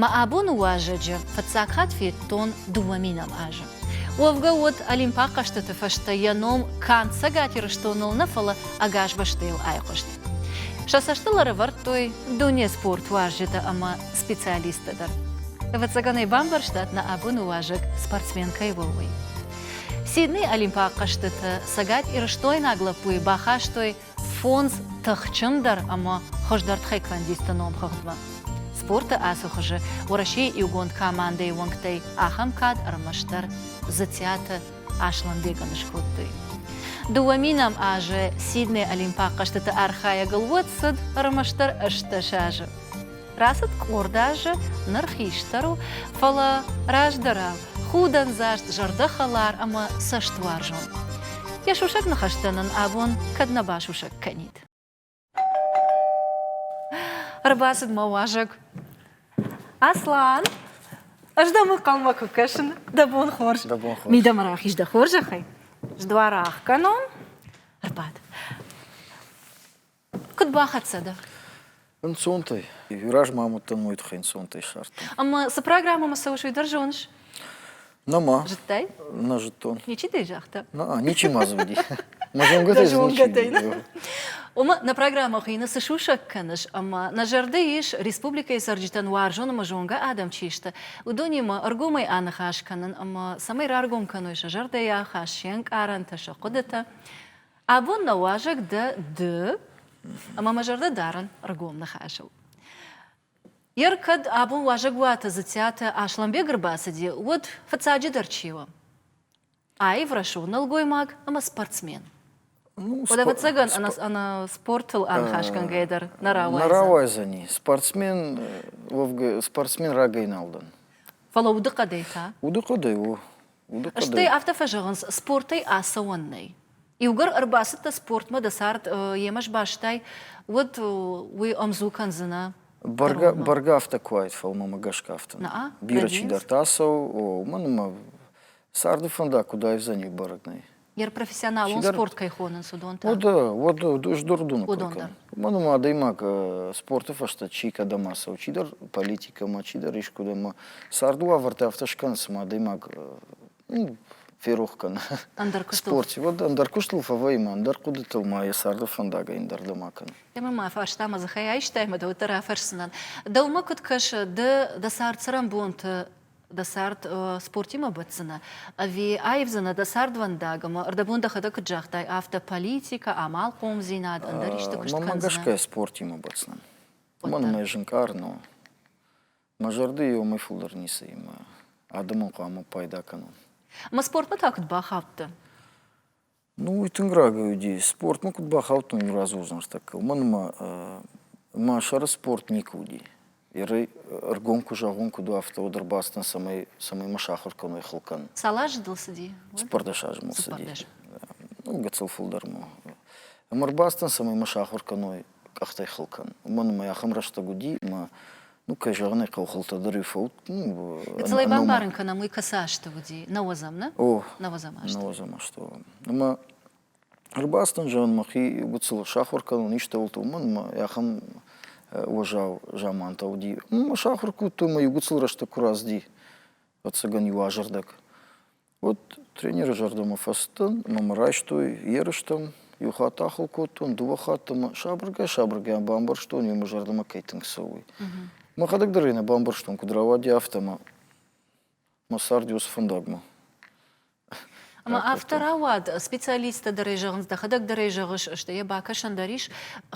Мӕ абоны уазӕджы фыццаг хатт федтон дыууӕ минӕм азы. Уӕвгӕ уыд Олимпаг хъӕзтыты фӕстӕ йӕ ном канд Цӕгат Ирыстоныл нӕ, фӕлӕ ӕгас бӕстӕйыл айхъуыст. Сӕ цӕстыл ӕрӕвӕрдтой дуне спорт уазджытӕ ӕмӕ специалисттӕ дӕр. Ӕвӕццӕгӕн ӕй бамбӕрстат, нӕ абоны уазӕг спортсмен кӕй у, уый. Сиднейы Олимпаг хъӕзтыты цӕгат-ирыстойнаг лӕппуйы бахастой Фондз тыхджындӕр ӕмӕ хуыздӕр тхеквондисты номхыгъдмӕ спорты ацы хуызы Уӕрӕсейы иугонд командӕйы уӕнгтӕй ахӕм кад ӕрмӕстдӕр Дзыциаты Аслӕнбегӕн скодтой. Дыууӕ мин ӕм азы Сидней Олимпаг хъӕзтыты архайӕгыл уӕд цыд ӕрмӕстдӕр ӕстдӕс азы. Рацыд къорд азы, ныр хистӕр у, фӕлӕ раздӕрау, худӕндзаст, зӕрдӕхӕлар ӕмӕ цӕстуарзон. Йӕ сусӕг ныхӕстӕ нын абон кӕд нӕ басусӕг кӕнид. Ӕрбацыд мӕ уазӕг. Аслан, ӕз дӕм ӕнхъӕлмӕ куы кӕсын, дӕ бон хорз. Дӕ бон хорз. Мидӕмӕ рахиз дӕ хорзӕхӕй. Сдуар ӕхгӕнон. Ӕрбад. Куд бахӕццӕ дӕ? Ӕнцонтӕй. Иу раз ма мадтӕн уой туххӕй ӕнцонтӕй ссардтон. Ӕма цы программӕмӕ цӕуыс, уый дӕр зоныс? Нӕма. Зыдтай? Нӕ зыдтон. Ничи дӕ загъта? На, ничи ма зуди. Мӕ зонгӕтӕй дзы ничи. Ома, нӕ программӕ хуыйны Цы сусӕг кӕныс? ӕмӕ нӕ зӕрды ис, республикӕйы цӕрджытӕн уарзон ӕмӕ зонгӕ адӕм чи сты, уыдонимӕ ӕргомӕй аныхас кӕнын ӕмӕ цӕмӕй раргом кӕной сӕ зӕрдӕйӕ хӕс се нкъарӕнтӕ, сӕ хъуыдытӕ. Абон нӕ уазӕг дӕ ды, ӕмӕ мӕ зӕрдӕ дарын ӕргом ныхасыл. Йер кӕд абон уазӕгуаты Дзыциаты Аслӕнбег ӕрбацыди, уӕд, фыццаджыдӕр, чи у? Аив рӕсугъд нӕлгоймаг ӕмӕ спортсмен. Ну, Уӕдӕ спор- ӕвӕццӕгӕн ӕнӕ, спор- ӕнӕ спортыл аныхасгӕнгӕйӕ дӕр нӕ Нӕ рауайдзӕн. рауайдзӕни. Спортсмен, э, Вовга- спортсмен рагӕй нал дӕн. Фӕлӕ удыхъӕдӕй та? Удыхъӕдӕй у Стӕй афтӕ фӕзӕгъынц, спортӕй ацӕуӕн нӕй. Иугӕр ӕрбацыдтӕ спортмӕ, дӕ цард йемӕ сбастай, уӕд уый ӕмдзу кӕндзынӕ. Бӕргӕ, бӕргӕ афтӕ куы уаид, фӕлмӕмӕ гӕсгӕ афтӕ. Бирӕ чидӕртӕ ацӕуы, уымӕн ӕмӕ царды фӕндаг куыд аивдзӕни, бӕрӕг нӕй. профессионалон спорт кӕй хонынц, уыдон та? Уыд, уыд, уыд уыдон дӕр. Мӕнмӕ адӕймаг спорты фӕстӕ чи кӕдӕм ацӕуы, чидӕр политикӕмӕ, чидӕр искуыдӕммӕ, царды уавӕртӕ афтӕ скӕн, цыма адӕймаг ферох кӕны спорт. Уӕд ӕндӕр куыстыл фӕвӕййӕм, ӕндӕр хъуыдытыл ма йӕ царды фӕндагӕй ӕндӕрдӕмӕ кӕнӕм. Ӕмӕ мӕ фарстамӕ дзыхӕй айстай, мӕ дӕуӕддӕр афӕрсдзынӕн. Дӕумӕ куыд кӕсы, ды дӕ цард-цӕрӕнбонты дӕ цард спортимӕ бӕтдзынӕ ӕви аивдзынӕ дӕ цардвӕндаг ӕмӕ ӕрдӕбон дӕхӕдӕг куыд загътай афтӕ политикӕ амалхъомдзинад ӕндӕр исты куыст мӕ гӕсгӕ спортимӕ бӕтдзынӕн уымӕн мӕ зынкъар но мӕ зӕрды иомӕй фылдӕр ницыимӕ адӕмон хъуамӕ пайда кӕнон мӕ спортмӕ та куыд бахаудтӕ Ну, тынг рагӕй уыди. Спортмӕ куыд бахаудтон иу разы уыдзӕнстӕгкӕ, уымӕн ӕмӕ мӕ сӕры спорт никуы уыди. Ерӕй ӕргом куы зӕгъон, куыд у афтӕ, уӕд ӕрбацыдтӕн, цӕмӕй, цӕмӕй мӕ сахуыр кӕной хыл кӕнын. Цал азы дыл цыди? Цыппӕрдӕс азы мыл цыди. Ну, гыццыл фылдӕр ма. Ӕмӕ ӕрбацыдтӕн, цӕмӕй мӕ сахуыр кӕной къӕхтӕй хыл кӕн. Уымӕн ӕмӕ ахӕм рӕстӕг уыди, ӕмӕ ну, кӕй зӕгъын ӕй хъӕуыхъӕутӕ дӕр иу фӕуд. Ну, Цалӕй бамбарын кӕнӕм, уый кӕцы азты уыди? Науӕдзӕм, нӕ? О, науӕдзӕм азты. Науӕдзӕм азты. Ӕмӕ ӕрбацыдӕн зӕгъын мӕхи гыццыл сахуыр кӕнон истӕуылты, уымӕн ӕмӕ ахӕм уӕззау замантӕ уыди. Ма сахуыр кодтой мӕ иу гыццыл рӕстӕг куы разди, ӕцӕгӕн иу азӕрдӕг. Уыд тренеры зӕрдӕмӕ фӕцыдтӕн, ӕмӕ мӕ райстой ерыстӕм. Иу хатт ахуыр кодтон, дыууӕ хатты мӕ сабыргай-сабыргай бамбӕрстон, иу мӕ зӕрдӕмӕ кӕй тынг цӕуы. Мӕхӕдӕг дӕр ӕй нӕ бамбӕрстон, куыд рауади, афтӕ мӕ мӕ цард уыд фӕндагмӕ. Ӕмӕ афтӕ рауад, специалисттӕ дӕр ӕй зӕгъынц, дӕхӕдӕг дӕр ӕй зӕгъыс, стӕй йӕ бакӕсӕн дӕр ис.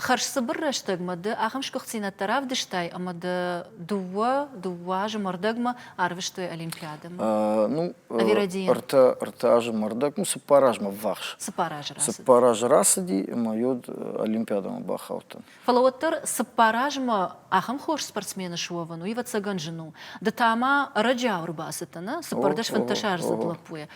Хӕрзцыбыр рӕстӕгмӕ ды ахӕм сгуыхтдзинӕдтӕ равдыстай, ӕмӕ дӕ дыууӕ, дыууӕ азы мӕрдӕгмӕ арвыстой Олимпиадӕмӕ? Ну, ӕртӕ, ӕртӕ азы мӕрдӕг, ну, цыппар азмӕ ввахс. Цыппар азы рацыди. Цыппар азы рацыди, ӕмӕ йод Олимпиадӕмӕ бахаудтӕн. Фӕлӕ уӕддӕр цыппар азмӕ ахӕм хорз спортсмены суӕвын, уый ӕвӕццӕгӕн зын у. Ды та ма ӕрӕджиау ӕрбацыдтӕ, нӕ? Цыппӕрдӕс фӕнддӕсаздзыд лӕппуйӕ.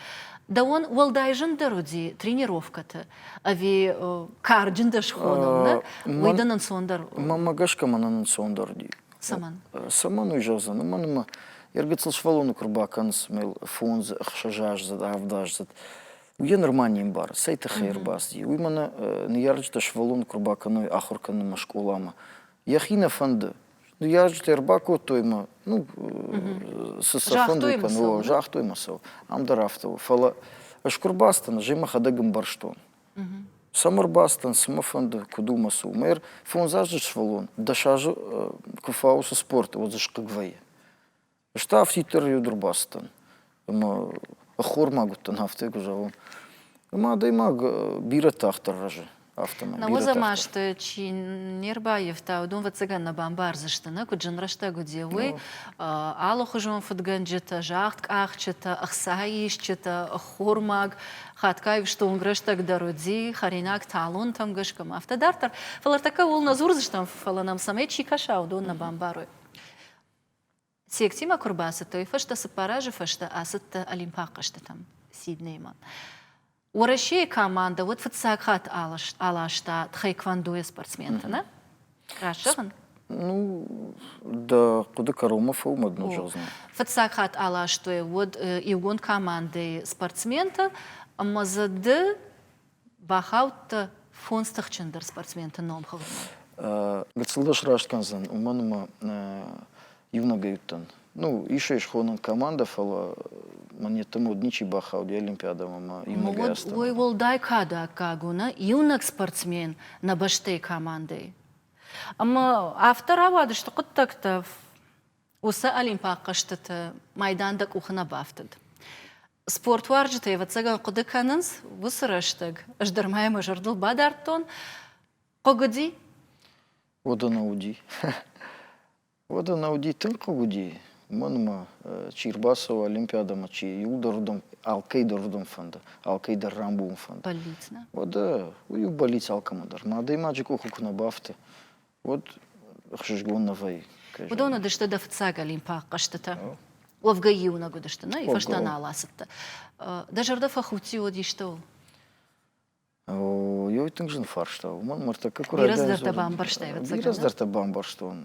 Дӕуӕн уӕлдай зындӕр уыди тренировкӕты ӕви карджын дӕ схонӕн, нӕ? Уый дын ӕнцондӕр у? Мӕнмӕ гӕсгӕ мӕн ӕнцондӕр уыди. Цӕмӕн? Цӕмӕн уый зӕгъдзӕн? Уымӕн ӕмӕ йӕ гыццыл сывӕллоны куы рбакӕнынц мыл фондз, ӕхсӕзаздзыд, авдаздзыд, уый йӕ нырма не мбары, цӕй тыххӕй ӕрбацыди. Уый мӕнӕ ныййарджытӕ сывӕллоны куы рбакӕной ахуыр кӕнынмӕ скъоламӕ, йӕхи нӕ фӕнды. Ныййарджытӕ ӕрбакодтой мӕ, ну, цы сӕ фӕнды кӕнӕ, загътой мӕ сӕ, ам дӕр афтӕ у. Фӕлӕ ӕз куы рбацыдӕн, ӕз мӕхӕдӕг ӕмбӕрстон. Цӕмӕ рбацыдтӕн, цы мӕ фӕнды, куыд у мӕ цы у? Мӕйӕр фондз азы сывӕллон дӕс азы куы фауы цы спорты, уӕд дзы схъыг вӕййы. Ӕз та афтиддӕр иуд ӕрбацыдтӕн. Ӕмӕ ӕххормаг уыдтӕн, афтӕ куы зӕгъон. Ӕмӕ адӕймаг бирӕ тагъддӕр рӕзы. Афтӕмӕй. Науӕдзӕмӕ азты чи не рбаййӕфта, уыдон ӕвӕццӕгӕн нӕ бамбардзысты, нӕ куыд зын рӕстӕг уыди, уый. Алыхуызон фыдгӕнджытӕ, загъдкъахджытӕ, ӕхцаисджытӕ, ӕххормаг Хатгай стонг рӕстӕг дӕр уыди, хӕринаг талонтӕм гӕсгӕ ма афтӕ дарддӕр, фӕлӕ ӕртӕккӕ ууыл нӕ дзурдзыстӕм, фӕлӕ нӕм цӕмӕй чи кӕса, уыдон нӕ бамбарой. Сектимӕ куы рбацыдтой, фӕстӕ цыппар азы фӕстӕ ацыдтӕ Олимпаг хъӕзтытӕм Сиднеймӕ. Уӕрӕсейы командӕ уӕд фыццаг хатт аласта тхэквондойӕ спортсменты, нӕ? Расӕгъын? Ну, дӕ хъуыды кӕронмӕ фӕлмӕд ныл зӕгъдзынӕ. Фыццаг хатт аластой уӕд иугонд командӕйы спортсменты ӕмӕ дзы ды бахаудтӕ фондз тыхджындӕр спортсменты номхыгъдмӕ. Гыццыл дӕ сраст кӕндзӕн, уымӕн ӕмӕ иунӕгӕй уыдтӕн. Ну, ис ӕй схонӕн командӕ, фӕлӕ мӕн йеддӕмӕ уыд ничи бахауди Олимпиадӕмӕ ӕмӕ иунӕгӕй астӕу. Уой уӕлдай кады аккаг у нӕ иунӕг спортсмен нӕ бӕстӕйы командӕйы. Ӕмӕ афтӕ рауадысты хъуыддӕгтӕ, уыцы Олимпаг хъӕзтыты майдан дӕ къухы нӕ бафтыд. Спортуарзджытӕ, ӕвӕццӕгӕн, хъуыды кӕнынц, уыцы рӕстӕг ӕз дӕр ма йӕ мӕ зӕрдыл бадардтон, хъыг уыди? Уӕдӕ нӕ уыди. Уӕд ӕнӕ уыди тынг хъыг уыди, мӕнмӕ, чи рбацӕуа Олимпиадӕмӕ, чи иуылдӕр алкӕйдӕр уырдӕм фӕнды, алкӕйдӕр рамбулын фӕнды. Бӕллиц нӕ? Уӕдӕ уый у бӕллиц алкӕмӕ дӕр. Мӕ адӕймаджы къухы куы нӕ бафты, уӕд ӕхсызгон нӕ вӕййы. Уыдон уыдысты дӕ фыццаг Олимпаг хъӕзтытӕ. Уӕвгӕ иунӕг уыдысты, нӕ фӕстӕ нал ацыдтӕ. Дӕ зӕрдӕ фӕхудти уӕд истӕуыл? Йӕ тынг зын фарста у. Уымӕн мыртӕккӕ куы райдайын Раздӕр та бамбӕрстай, ӕвӕццӕгӕн? Раздӕр та бамбӕрстон.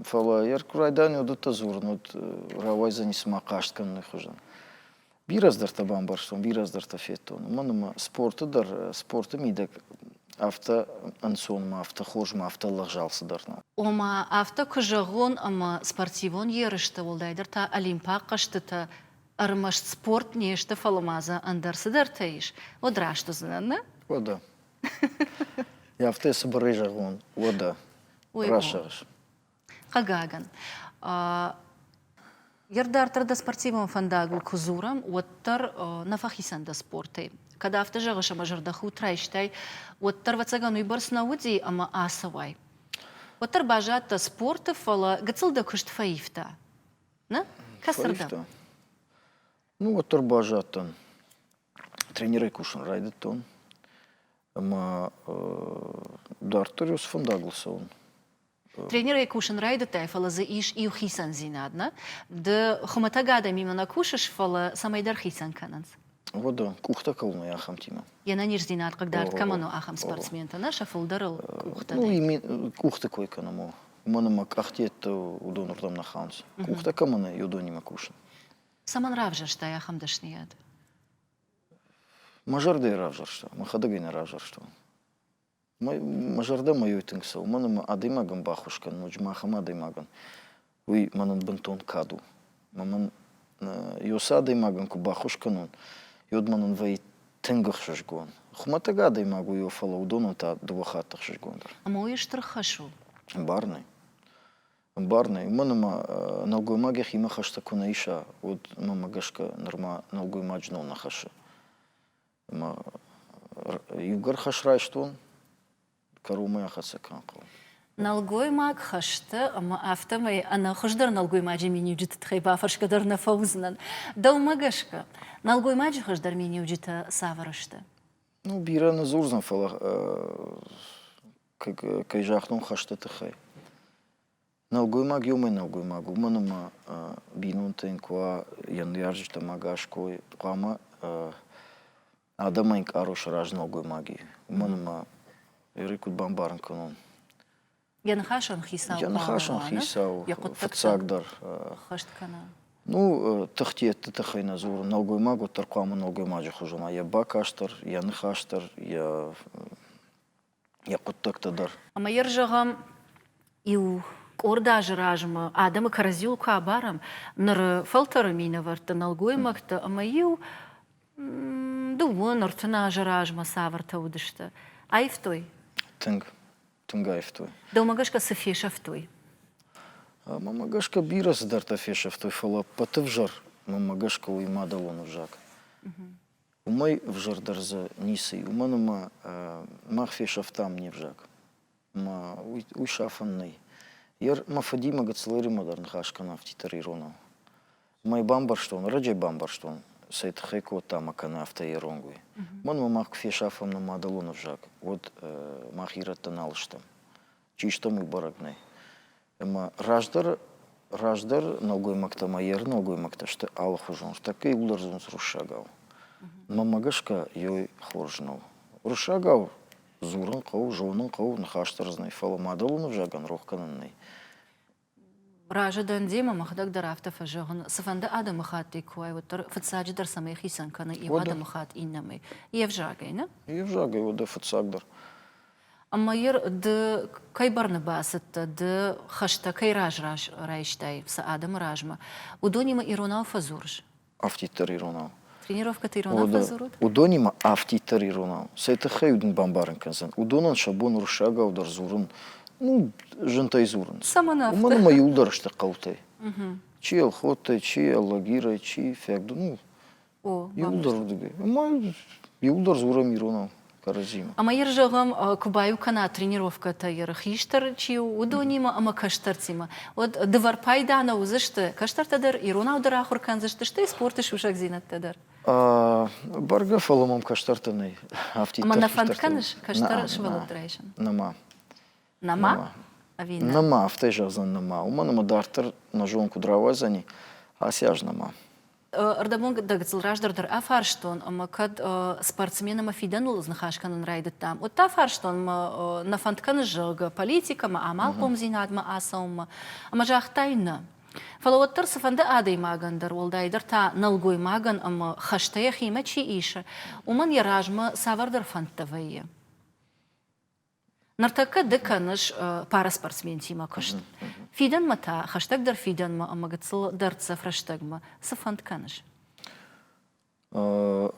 Фӕлӕ йӕ куы райдайын уыдӕттӕ дзурын, уӕд рауайдзӕни цыма хъаст кӕныны хуызӕн. Бирӕ дӕртӕ бамбӕрстон, бирӕ дӕртӕ федтон. Уымӕн ӕмӕ спорты дӕр, спорты мидӕг афтӕ ӕнцонмӕ, афтӕ хорзмӕ, афтӕ лӕгъзау цыдӕр нӕу. Ома, афтӕ куы зӕгъон, ӕмӕ спортивон ерысты, уӕлдайдӕр та Олимпаг хъӕзтытӕ ӕрмӕст спорт не сты, фӕлӕ ма дзы ӕндӕр цыдӕртӕ ис, уӕд раст уыдзынӕн, нӕ? Уӕдӕ. Йӕ афтӕ цыбырӕй зӕгъон, уӕдӕ. Расӕгъыс. Хъагагӕн, Йе рдарддӕр дӕ спортивон фӕндагыл куы дзурӕм, уӕддӕр нӕ фӕхицӕн дӕ спортӕй. Кӕд афтӕ зӕгъыс ӕмӕ зӕрдӕхудт райстай, уӕддӕр, ӕвӕццӕгӕн, уыйбӕрц нӕ уыди ӕмӕ ацӕуай. Уӕддӕр баззадтӕ спорты, фӕлӕ гыццыл дӕ куыст фӕивта. Нӕ? Кӕцырдӕм? Ну, уӕддӕр баззадтӕн. Тренерӕй кусын райдыдтон. Ӕмӕ дарддӕр иу сфӕндагыл цӕуын. Тренерӕй кусын райдыдтай, фӕлӕ дзы ис иу хицӕндзинад, нӕ? Ды хуымӕтӕг адӕмимӕ нӕ кусыс, фӕлӕ цӕмӕйдӕр хицӕн кӕнынц. О, да, къухтӕ кӕуынӕй ахӕмтимӕ. Йе нӕниздзинад хъыгдард кӕмӕн у, ахӕм спортсментӕ, нӕ сӕ фылдӕрыл къухтӕ нӕй. Ну, къухты кой кӕнӕм, о. уымӕн ӕмӕ къахдӕтты уыдон рдӕм нӕ хауынц. Къухтӕ кӕмӕн и, уыдонимӕ кусын. Цӕмӕн равзӕрстай ахӕм дӕсныйад? Мӕ зӕрдӕ равзӕрста, мӕхӕдӕг ӕй нӕ равзӕрстон. Мӕ, мӕ зӕрдӕ мӕ ой тынг цӕуы, мӕн ӕмӕ адӕймагӕн баххуыс кӕн, ноджы ма ахӕм адӕймагӕн, уый мӕнӕн бынтон кад у. мын иу цы адӕймаг ын куы баххуыс кӕнон, уӕд мын ын вӕййы тынг ӕхсызгон. Хуымӕтӕг адӕймаг у, фӕлӕ уыдонӕн та дыууӕ хатты хсызгондӕр. Ӕмӕ уый стыр хӕс у? Ӕмбар нӕй. Ӕмбар нӕй. Уымӕн ӕмӕ нӕлгоймаг йӕхимӕ хӕстӕ куы нӕ иса, уӕд мӕмӕ гӕсгӕ нырма нӕлгоймаг знон нӕ хӕссы. Ӕма иугӕр хӕс райстон, кӕронмӕ ахӕццӕ кӕнхъӕл. Нӕлгоймаг хӕсты ӕмӕ афтӕмӕй ӕнӕхуыздӕр нӕлгоймаджы миниуджыты тыххӕй бафӕрсгӕ дӕр нӕ фӕуыдзынӕн. Дӕумӕ гӕсгӕ, нӕлгоймаджы хуыздӕр миниуджытӕ цавӕр сты? Ну, бирӕ нӕ дзурдзӕн, фӕлӕ кӕй загътон хӕсты тыххӕй. Нӕлгоймаг еумӕ нӕлгоймаг, уомӕн ӕма бийнонтӕ ин ку уа йе ныййарджитӕм ӕгас кой, хъуамӕ адӕмӕн ин къару сараза нӕлгоймаги. Уомӕн ӕма Ери куд бамбарын кӕнон? Йӕ ныхасӕн хицау Йӕ ныхасӕн хъуамӕ уа, нӕ? хицау Йӕ хъуыддӕгтӕ фыццагдӕр хӕст кӕна. Ну, тыхтиӕдты тыххӕй нӕ дзурын, нӕлгоймаг уӕддӕр хъуамӕ нӕлгоймаджы хуызӕн уа, йӕ бакаст дӕр, йӕ ныхас дӕр, йӕ йӕ хъуыддӕгтӕ дӕр. Ӕмӕ йӕ зӕгъӕм, иу къорд азы размӕ адӕмы кӕрӕдзиуыл куы абарӕм, ныры фӕлтӕры минӕвӕртты, нӕлгоймӕгты ӕмӕ-иу дыууын, ӕртын азы размӕ цавӕртӕ уыдысты, аивтой? Тынг, тынг аивтой. Дӕумӕ гӕсгӕ цы фесӕфтой? Мӕмӕ гӕсгӕ бирӕ цыдӕртӕ фесӕфтой, фӕлӕ ӕппӕты взӕр, мӕмӕ гӕсгӕ, уый мадӕлон ӕвзаг. Уымӕй ӕвзӕрдӕр дзы ницы и, уымӕн ӕмӕ мах фесӕфтам не взаг. Ӕмӕ уый, уый сафӕн нӕй. Йе мӕ фыдимӕ Гыцлеримӕ дӕр ныхас кӕна афтитӕр иронау. Ӕмӕ йӕ бамбӕрстон, ӕрӕджӕй бамбӕрстон, цӕй тыххӕй кодта ӕмӕ кӕны афтӕ ирон уый. Мӕнмӕ мах куы фесафӕм нӕ мадӕлон ӕвзаг, уӕд мах ирӕттӕ нал стӕм. Чи стӕм, уый бӕрӕг нӕй. Ӕмӕ раздӕр раздӕр нӕлгоймӕгтӕ ӕмӕ еры нӕлгоймӕгтӕ сты алыхуызон, тӕккӕ иууылдӕр дзурынц руссагау. Мӕнмӕ гӕсгӕ, ёй хорз нӕу. Руссагау дзурын хъӕуы, зонын хъӕуы, ныхас дӕр дзы нӕй, фӕлӕ мадӕлон ӕвзагӕн рох кӕнӕн нӕй. Разы дӕн демӕ, мӕхӕдӕг дӕр афтӕ фӕзӕгъын, цыфӕнды адӕмыхаттӕй куы уай, уӕддӕр фыццаджыдӕр цӕмӕй хицӕн кӕны иу адӕмыхатт иннӕмӕй, йе взагӕй, нӕ? Йе взагӕй, уӕдӕ фыццагдӕр. Ӕмӕ йыр ды кӕй бӕрны бацыдтӕ, ды хӕстӕ кӕй раз раз райстай сӕ адӕмы размӕ, уыдонимӕ иронау фӕдзурыс? Афтиддӕр иронау. Тренировкӕты иронау фӕдзурут? Уыдонимӕ афтиддӕр иронау. Цӕй тыххӕй уыд ын бамбарын кӕндзӕн? Уыдонӕн сӕ бон уырыссагау дӕр дзурын, ну, зынтӕй дзурын. Цӕмӕн афтӕ? Уымӕн ӕмӕ иу дӕр сты хъӕутӕй. Чи Елхоттӕй, чи Алагирӕй, чи Фӕгды, ну, Иуылдӕр уыдыдӕй. Ӕмӕ иуылдӕр дзурӕм иронау кӕрӕдзимӕ. Ӕмӕ йыр зӕгъӕм, куы баиу кӕна тренировкӕтӕ йыр хистӕр чи у, уыдонимӕ ӕмӕ кӕстӕртимӕ, уӕд дывӕр пайда нӕ уыдзысты, кӕстӕртӕ дӕр иронау дӕр ахуыр кӕндзысты, стӕй спорты сусӕгдзинӕдтӕ дӕр. Бӕргӕ, фӕлӕ мӕм кӕстӕртӕ нӕй. Афтиддӕр, ӕмӕ нӕ фӕнд кӕныс кӕстӕр сывӕллӕтты райсын? Нӕма. Нӕма? Ӕви нӕ? Нӕма, афтӕ зӕгъдзӕн нӕма. Уымӕн ӕмӕ дарддӕр нӕ зон куыд рауайдзӕни, ацы аз нӕма. Ӕрдӕбон дӕг дзыл раздӕр дӕр афарстон, ӕмӕ кӕд спортсмен ӕмӕ фидӕныл ныхас кӕнын райдыдтам, уӕд та фарстон, мӕ нӕ фӕнд кӕныс, зӕгъгӕ, политикӕмӕ, амалхъомдзинадмӕ ацӕуынмӕ, ӕмӕ загътай нӕ. Фӕлӕ уӕддӕр цыфӕнды адӕймагӕн дӕр, уӕлдайдӕр та нӕлгоймагӕн ӕмӕ хӕстӕ йӕхимӕ чи исы, уымӕн йӕ размӕ цавӕрдӕр фӕндтӕ вӕййы. Ныртӕккӕ ды кӕныс параспортсментимӕ куыст. Фидӕнмӕ та хӕстӕгдӕр фидӕнмӕ ӕмӕ гыццыл дӕрддзӕф рӕстӕгмӕ цы фӕнд кӕныс?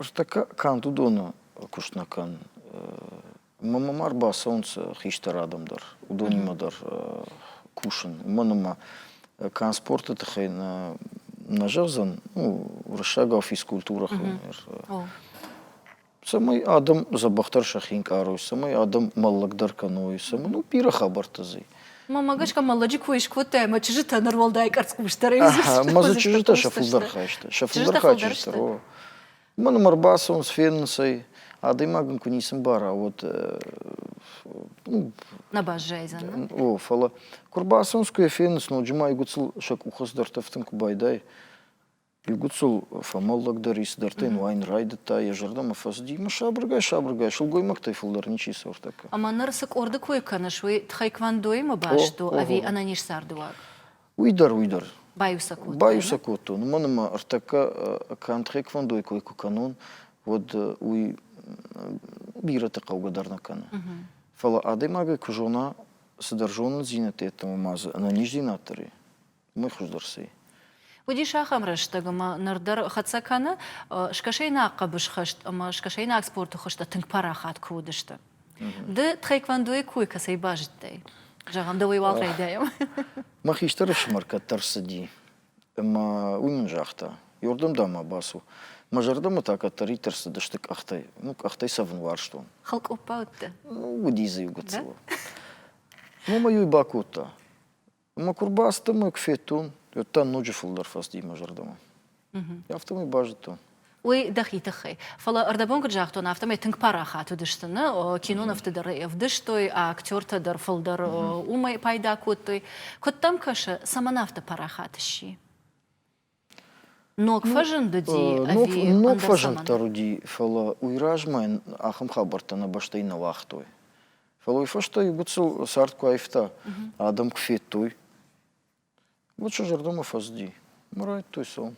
Ӕз тӕккӕ канд уыдоны куыст нӕ кӕн. Мӕмӕ ма рбацӕуынц хистӕр адӕм дӕр, уыдонимӕ дӕр кусын. Уымӕн ӕмӕ канд спорты тыххӕй нӕ нӕ зӕгъдзӕн, ну, уырыссагау физкультурӕ хыл. цӕмӕй адӕм дзӕбӕхдӕр сӕхи ӕнкъарой, цӕмӕй адӕм мӕллӕгдӕр кӕной, цӕмӕй ну бирӕ хабӕрттӕ зй. Мӕ мӕ гӕсгӕ мӕллӕджы кой скодтай ӕмӕ чызджытӕ ныруӕлдай къӕрцхъусдӕрӕй уыдзысты. Мӕ дзы чызджытӕ сӕ фылдӕр хайсты, сӕ фылдӕр хайджынстӕр о. Мӕн ӕм ӕрбацӕуынц, фенынц ӕй, адӕймаг ын куы ницы мбара, уӕд Нӕ баззайдзӕн. О, фӕлӕ куы ӕрбацӕуынц, куы йӕ фенынц, ноджы ма иугуыцыл сӕ къухы цыдӕр тӕфтын куы байдайы. Иугуыцыл фӕмӕллӕгдӕр и, цыдӕртӕ йын уайын райдыдта, йӕ зӕрдӕмӕ фӕцыди, мӕ сабыргай-сабыргай сылгоймӕгтӕй фылдӕр ничи сӕвӕрдта кӕм. Ӕмӕ ныр цы къорды кой кӕныс, уый тхайквондоимӕ баст у ӕви ӕнӕниз цардыуаг? Уый дӕр, уый дӕр. Баиу сӕ кодтон. Баиу сӕ кодтон. Уымӕн ӕмӕ ӕртӕккӕ канд тхайквондойы кой куы кӕнон, уӕд уый бирӕты хъӕугӕ дӕр нӕ кӕны. Фӕлӕ адӕймагӕй куы зона, цыдӕр зонындзинӕдтӕ йеддӕмӕ ма дзы ӕнӕниздзинад дӕр и. ныхсдзырси. Уыдис ахӕм рӕстӕг, ӕмӕ ныр дӕр хӕццӕ кӕны, скӕсӕйнаг хъӕбысхӕст ӕмӕ скӕсӕйнаг спорты хуызтӕ тынг парахат куы уыдысты. Ды тхэквондойы кой кӕцӕй базыдтай? Зӕгъӕм, дӕуӕй уал райдайӕм. Мӕ хистӕры сымӕр кӕддӕр цыди, ӕмӕ уый мын загъта, Йордом дӕ ма бацу. Мӕ зӕрдӕмӕ та кӕддӕриддӕр цыдысты къӕхтӕй. Ну, къӕхтӕй цӕвын уарзтон. Хӕлкъоппӕ уыдтӕ? Ну, уыди дзы иу гыццыл. Номӕй-иу ӕй бакодта. Ӕмӕ куы рбацыдтӕн, мӕ куы федтон, уӕд та ноджы фылдӕр фӕцыди мӕ зӕрдӕмӕ. Афтӕмӕй базыдтон. Уый дӕхи тыххӕй. Фӕлӕ ӕрдӕбон куыд загътон, афтӕмӕй тынг парахат уыдысты нӕ кинонывты дӕр ӕвдыстой, актертӕ дӕр фылдӕр уымӕй пайда кодтой. Куыд дӕм кӕсы, цӕмӕн афтӕ парахат сси? Ног фӕзындыди? Ног фӕзынддӕр уыди, фӕлӕ уый размӕ йын ахӕм хабӕрттӕ нӕ бӕстӕйы нӕ уагътой. Фӕлӕ уый фӕстӕ иу гуыцу цард куы аивта, адӕм куы федтой, гуыцу зӕрдӕмӕ фӕзыди. Райдтой сом.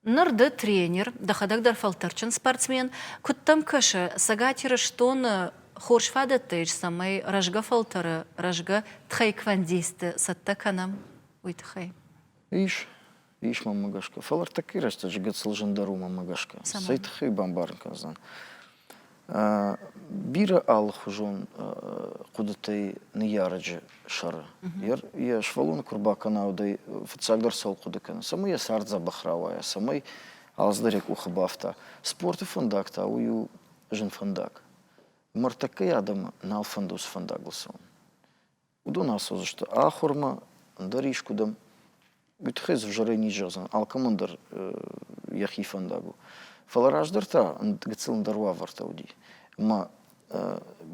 Ныр ды тренер, дӕхӕдӕг дӕр фӕлтӕрджын спортсмен. Куыд дӕм кӕсы, Цӕгат Ирыстоны хорз фадӕттӕ ис, цӕмӕй рӕзгӕ фӕлтӕры рӕзгӕ тхайквондисты цӕттӕ кӕнӕм, уый тыххӕй? Ис. Ис мӕмӕ гӕсгӕ. Фӕлӕ ӕртӕккӕйы рӕстӕджы гыццыл зын дӕр у мӕмӕ гӕсгӕ. Цӕмӕн? Цӕй тыххӕй бамбарын кӕндзӕн? Бирӕ алыхуызон хъуыдытӕй ныййарӕджы сӕры йӕ сывӕллоны куы рбакӕна, уӕд ӕй фыццагдӕр цӕуыл хъуыды кӕны, цӕмӕй йӕ цард дзӕбӕх рауайа, цӕмӕй алцыдӕр йӕ къухы бафта. Спорты фӕндаг та уый у зын фӕндаг. Ӕмӕ ӕртӕккӕйы адӕмы нал фӕнды уыцы фӕндагыл цӕуын. уыдон ацӕудзысты ахуырмӕ, ӕндӕр искуыдӕм. Уый тыххӕй дзы зӕрӕй низ зӕгъдзӕн, алкӕмӕн дӕр йӕхи фӕндаг у. Фӕлӕ раздӕр та гыццыл ӕндӕр уавӕртӕ уыди. Ӕмӕ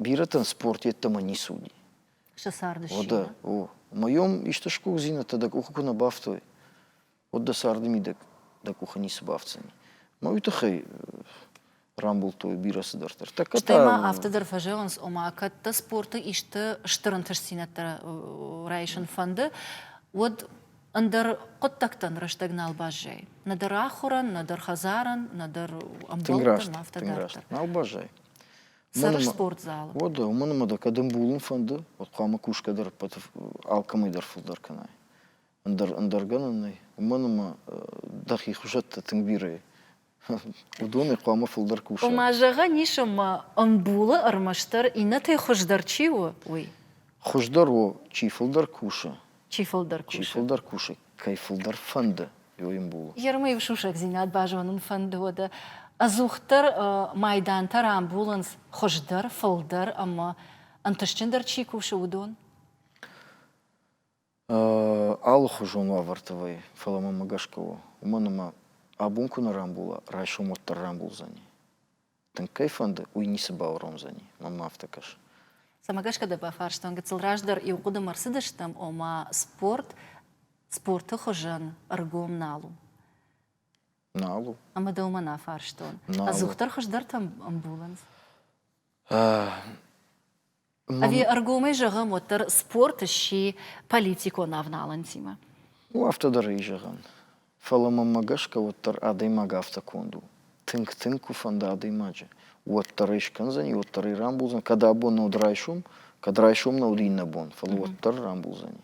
бирӕтӕн спорт йеддӕмӕ ницы уыди. Сӕ царды ссыгъд. О, ӕмӕ йӕм исты сгуыхтдзинӕдтӕ дӕ къухы куы нӕ бафтой, уӕд дӕ царды мидӕг дӕ къухы ницы бафтдзӕни. Мӕ уый тыххӕй рамбылдтой бирӕ цыдӕртӕ. Тӕккӕ Стӕй ма афтӕ дӕр фӕзӕгъынц, ома, кӕд дӕ спорты исты стыр ӕнтыстдзинӕдтӕ райсын фӕнды, уӕд ӕндӕр хъуыддӕгтӕн рӕстӕг нал баззайы. Нӕдӕр ахуырӕн, нӕдӕр хӕдзарӕн, нӕдӕр ӕмбӕлттӕн, афтӕ дарддӕр. Нал баззайы. Цӕры спортзалы. Уӕд да, уымӕн ӕмӕ да кӕд ӕмбулын фӕнды, уӕд хъуамӕ кусгӕ дӕр ӕппӕты алкӕмӕй дӕр фылдӕр кӕнай. ӕндӕр, ӕндӕр гӕнӕн нӕй. Уымӕн ӕмӕ дӕхи хуызӕттӕ тынг бирӕ уыдонӕй хъуамӕ фылдӕр куса. Ома, зӕгъӕн ис, ӕмӕ ӕмбулы ӕрмӕстдӕр иннӕтӕй хуыздӕр чи у, уый. Хуыздӕр у, чи фылдӕр кусы. Чи фылдӕр кусы. Чи фылдӕр кусы, кӕй фылдӕр фӕнды, йой ӕмбул. Ермы-иу сусӕгдзинад базонын фӕнды, уӕдӕ ӕдзухдӕр майдантӕ рамбулынц хуыздӕр, фылдӕр ӕмӕ ӕнтыстджындӕр чи кусы, уыдон. алыхуызон уавӕрты вӕййы, фӕлӕ мӕнмӕ гӕсгӕ у, уымӕн ӕмӕ абон куы нӕ рамбула, райсом уӕддӕр рамбулдзӕни. Тынг кӕй фӕнды, уый ницы бауромдзӕни. Мӕнмӕ афтӕ кӕсы. Цӕмӕ гӕсгӕ дӕ бафарстон, гыццыл раздӕр иу хъуыдымӕ рцыдыстӕм, ома спорт спорты хуызӕн ӕргом нал у. Нал у. Ӕмӕ дӕ уымӕн афарстон. Нал ӕдзухдӕр хуыздӕртӕ ӕмбулынц? Ӕви ӕргомӕй зӕгъӕм, уӕддӕр спорт сси политикон авналӕнтимӕ? У афтӕ дӕр ӕй зӕгъӕн. Фӕлӕ мӕнмӕ гӕсгӕ уӕддӕр адӕймаг афтӕ конд у. Тынг-тынг куы фӕнда адӕймаджы, уӕддӕр ӕй скӕндзӕни, уӕддӕр ӕй рамбулдзӕн, кӕд абон нӕ уыд райсом, кӕд райсом нӕ уыд иннӕ бон, фӕлӕ уӕддӕр рамбулдзӕни.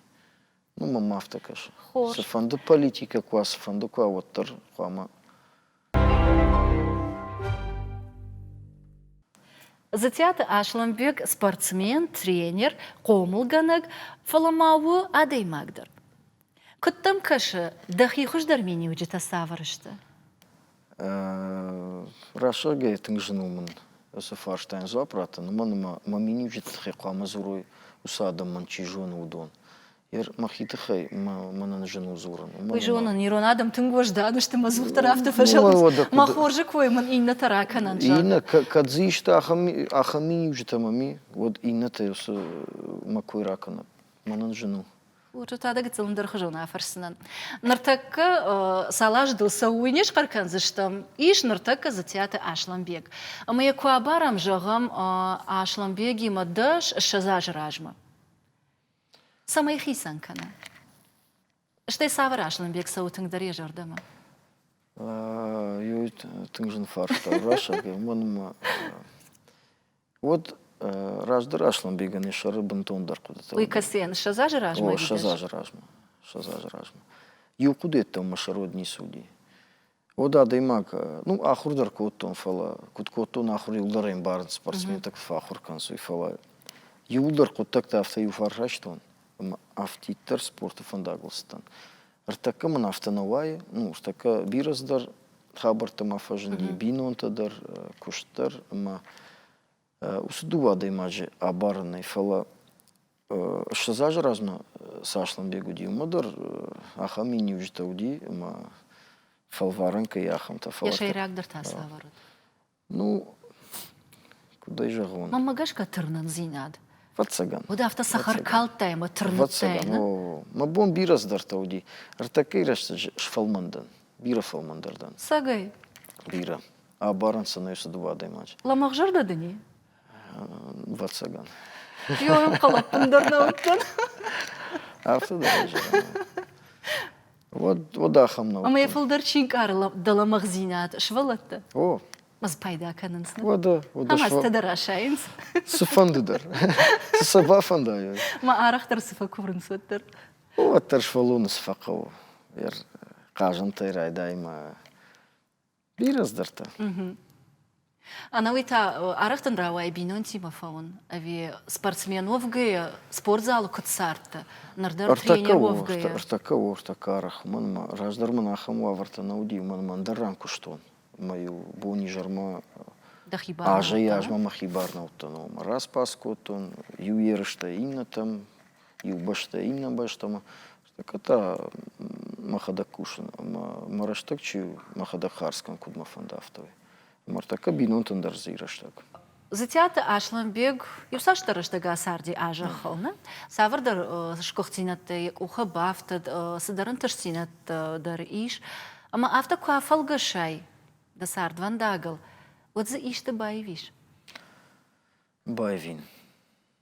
Ну, мӕм афтӕ кӕсы. Хорз. Цыфӕнды политикӕ куы уа, цыфӕнды куы уа, уӕддӕр хъуамӕ Зытиаты Аслӕнбег спортсмен, тренер, хъомылгӕнӕг, фӕлӕ ма у адӕймаг дӕр. Куыд дӕм кӕсы, дӕхи хуыздӕр миниуджытӕ цавӕр сты? Рӕсугӕй тынг зын уымын уыцы фарстайӕн дзуапп раттын, уымӕн ӕмӕ мӕ миниуджыты тыххӕй хъуамӕ дзурой уыцы адӕмӕн, чи зоны, уыдон. Мӕхи тыххӕй мӕнӕн зын у дзурын. Уый зонын, ирон адӕм тынг уӕздан сты мӕ дзухдӕр афтӕ фӕзӕгъынц. Мӕ хорзы кой мын иннӕтӕ ракӕнӕнт. Иннӕ кӕд дзы исты ахӕм миниуджытӕ ма ми, уӕд иннӕтӕй уыцы мӕ кой ракӕнӕм. Мӕнӕн зын у. Уты та дӕ гыццыл ӕндӕрхуызон афӕрсдзынӕн. Ныртӕккӕ цал аз дыл цӕуой не схъӕр кӕндзыстӕм? Ис ныртӕккӕ Дзытиаты Аслӕнбег. Ӕмӕ йӕ куы абарӕм, зӕгъӕм, Аслӕнбегимӕ дӕс ссӕдз азы размӕ. Цӕмӕй хицӕн кӕна? Стӕй цавӕр Аслӕнбег цӕуы тынгдӕр йӕ зӕрдӕмӕ? Иу тынг зын фарста рацагӕ мӕнмӕ. Уӕд раздӕр Аслӕнбегӕн йӕ сӕры бынтондӕр хъуыдытӕ. Уый кӕцыйӕн ссӕдз азы размӕ? О, ссӕдз азы размӕ. Ссӕдз азы размӕ. Иу хъуыдыйӕдтӕ мӕ сӕрод ницы уыди. Уӕд адӕймаг, ну, ахуыр дӕр кодтон, фӕлӕ куыд кодтон ахуыр, иуылдӕр ӕмбарын спортсментӕ куы фӕахуыр кӕнцой, фӕлӕ иуылдӕр хъуыддӕгтӕ афтӕ иу фарс райстон, ӕмӕ афтиддӕр спорты фӕндагыл цыдтӕн. Ӕртӕккӕ мын афтӕ нӕ уайы. Ну, ӕртӕккӕ бирӕ дӕр хабӕрттӕ ма фӕзынди, бинонтӕ дӕр, куыст дӕр ӕмӕ уыцы дыууӕ адӕймаджы абарынӕй. Фӕлӕ ссӕдз азы размӕ цы Аслӕнбег уыди, уымӕ дӕр ахӕм миниуджытӕ уыди, ӕмӕ фӕлварӕн кӕй ахӕмтӕ. Фӕлӕ. Йӕ сӕйрагдӕр та цы ӕвӕрӕд? Ну, куыд ӕй зӕгъон? Мӕнмӕ гӕсгӕ тырнындзинад. Ӕвӕццӕгӕн. Уӕд афтӕ цӕхӕркалдтай ӕмӕ тырныдтай, нӕ? Мӕ бон бирӕ цыдӕртӕ уыди. Ӕртӕккӕйы рӕстӕджы сфӕлмӕн дӕн. Бирӕ фӕлмӕндӕр дӕн. Цӕгӕй? Бирӕ. Абарын сын ӕй цы дыууӕ адӕймаджы. Лӕмӕгъзӕрдӕ дын и? Ӕвӕццӕгӕн. Иу ӕнхъӕл ӕппындӕр нӕ уыдтӕн. Афтӕ дӕр ӕй зӕгъын. Уӕд, уӕд ахӕм нӕу. Ӕмӕ йӕ фылдӕр чи нкъары дӕ лӕмӕгъдзинад, сывӕллӕтты? О. Ӕз пайда кӕнынц. Уӕдӕ, уӕдӕ. Ӕмӕ ӕз дӕр асайынц. Цыфӕнды дӕр. Цы сӕ бафӕндайай. Мӕ арӕхдӕр цы фӕкуврынц, уӕддӕр. Уӕддӕр сфӕллоны цы фӕхъӕуы. Йӕ хъазӕнтӕй райдаймӕ Бирӕ здӕртӕ. Ӕнӕуый та арӕхдӕр рауайы бинонтимӕ фӕуын ӕви спортсменуӕвгӕйӕ спортзалы куыд цардтӕ? Ныр дӕр тренеруӕвгӕйӕ. Ӕртӕкӕ у, ӕртӕкӕ арӕх. Мӕнмӕ раздӕр мын ахӕм уавӕртӕ нӕ уыди, мӕнмӕ ӕндӕр ран куыстон. Мӕ-иу бон-изӕрмӕ азӕй-азмӕ мӕхи барнӕуыдтӕн омӕ распац кодтон иу ерыстӕй иннӕтӕм, иу бӕстӕ иннӕ бӕстӕмӕ. Так это мӕхӕдӕг кусын, ӕмӕ мӕ рӕстӕг чи у, мӕхӕдӕг хардз кӕн, куыд мӕ фӕнды, афтӕ уый. Мартакка бинонтӕн дӕр дзы и рӕстӕг. Зытиаты Аслӕнбег иуцасдӕр рӕстӕг ацарди а зӕххыл. Нӕ? Цавӕрдӕр сгуыхтдзинӕдтӕ йӕ къухы бафтыд, цыдӕр ӕнтыстдзинӕдтӕ дӕр ис. Ӕмӕ афтӕ куы афӕлгӕсай дӕ цардвӕндагыл, уӕд дзы исты баивис? Баивин.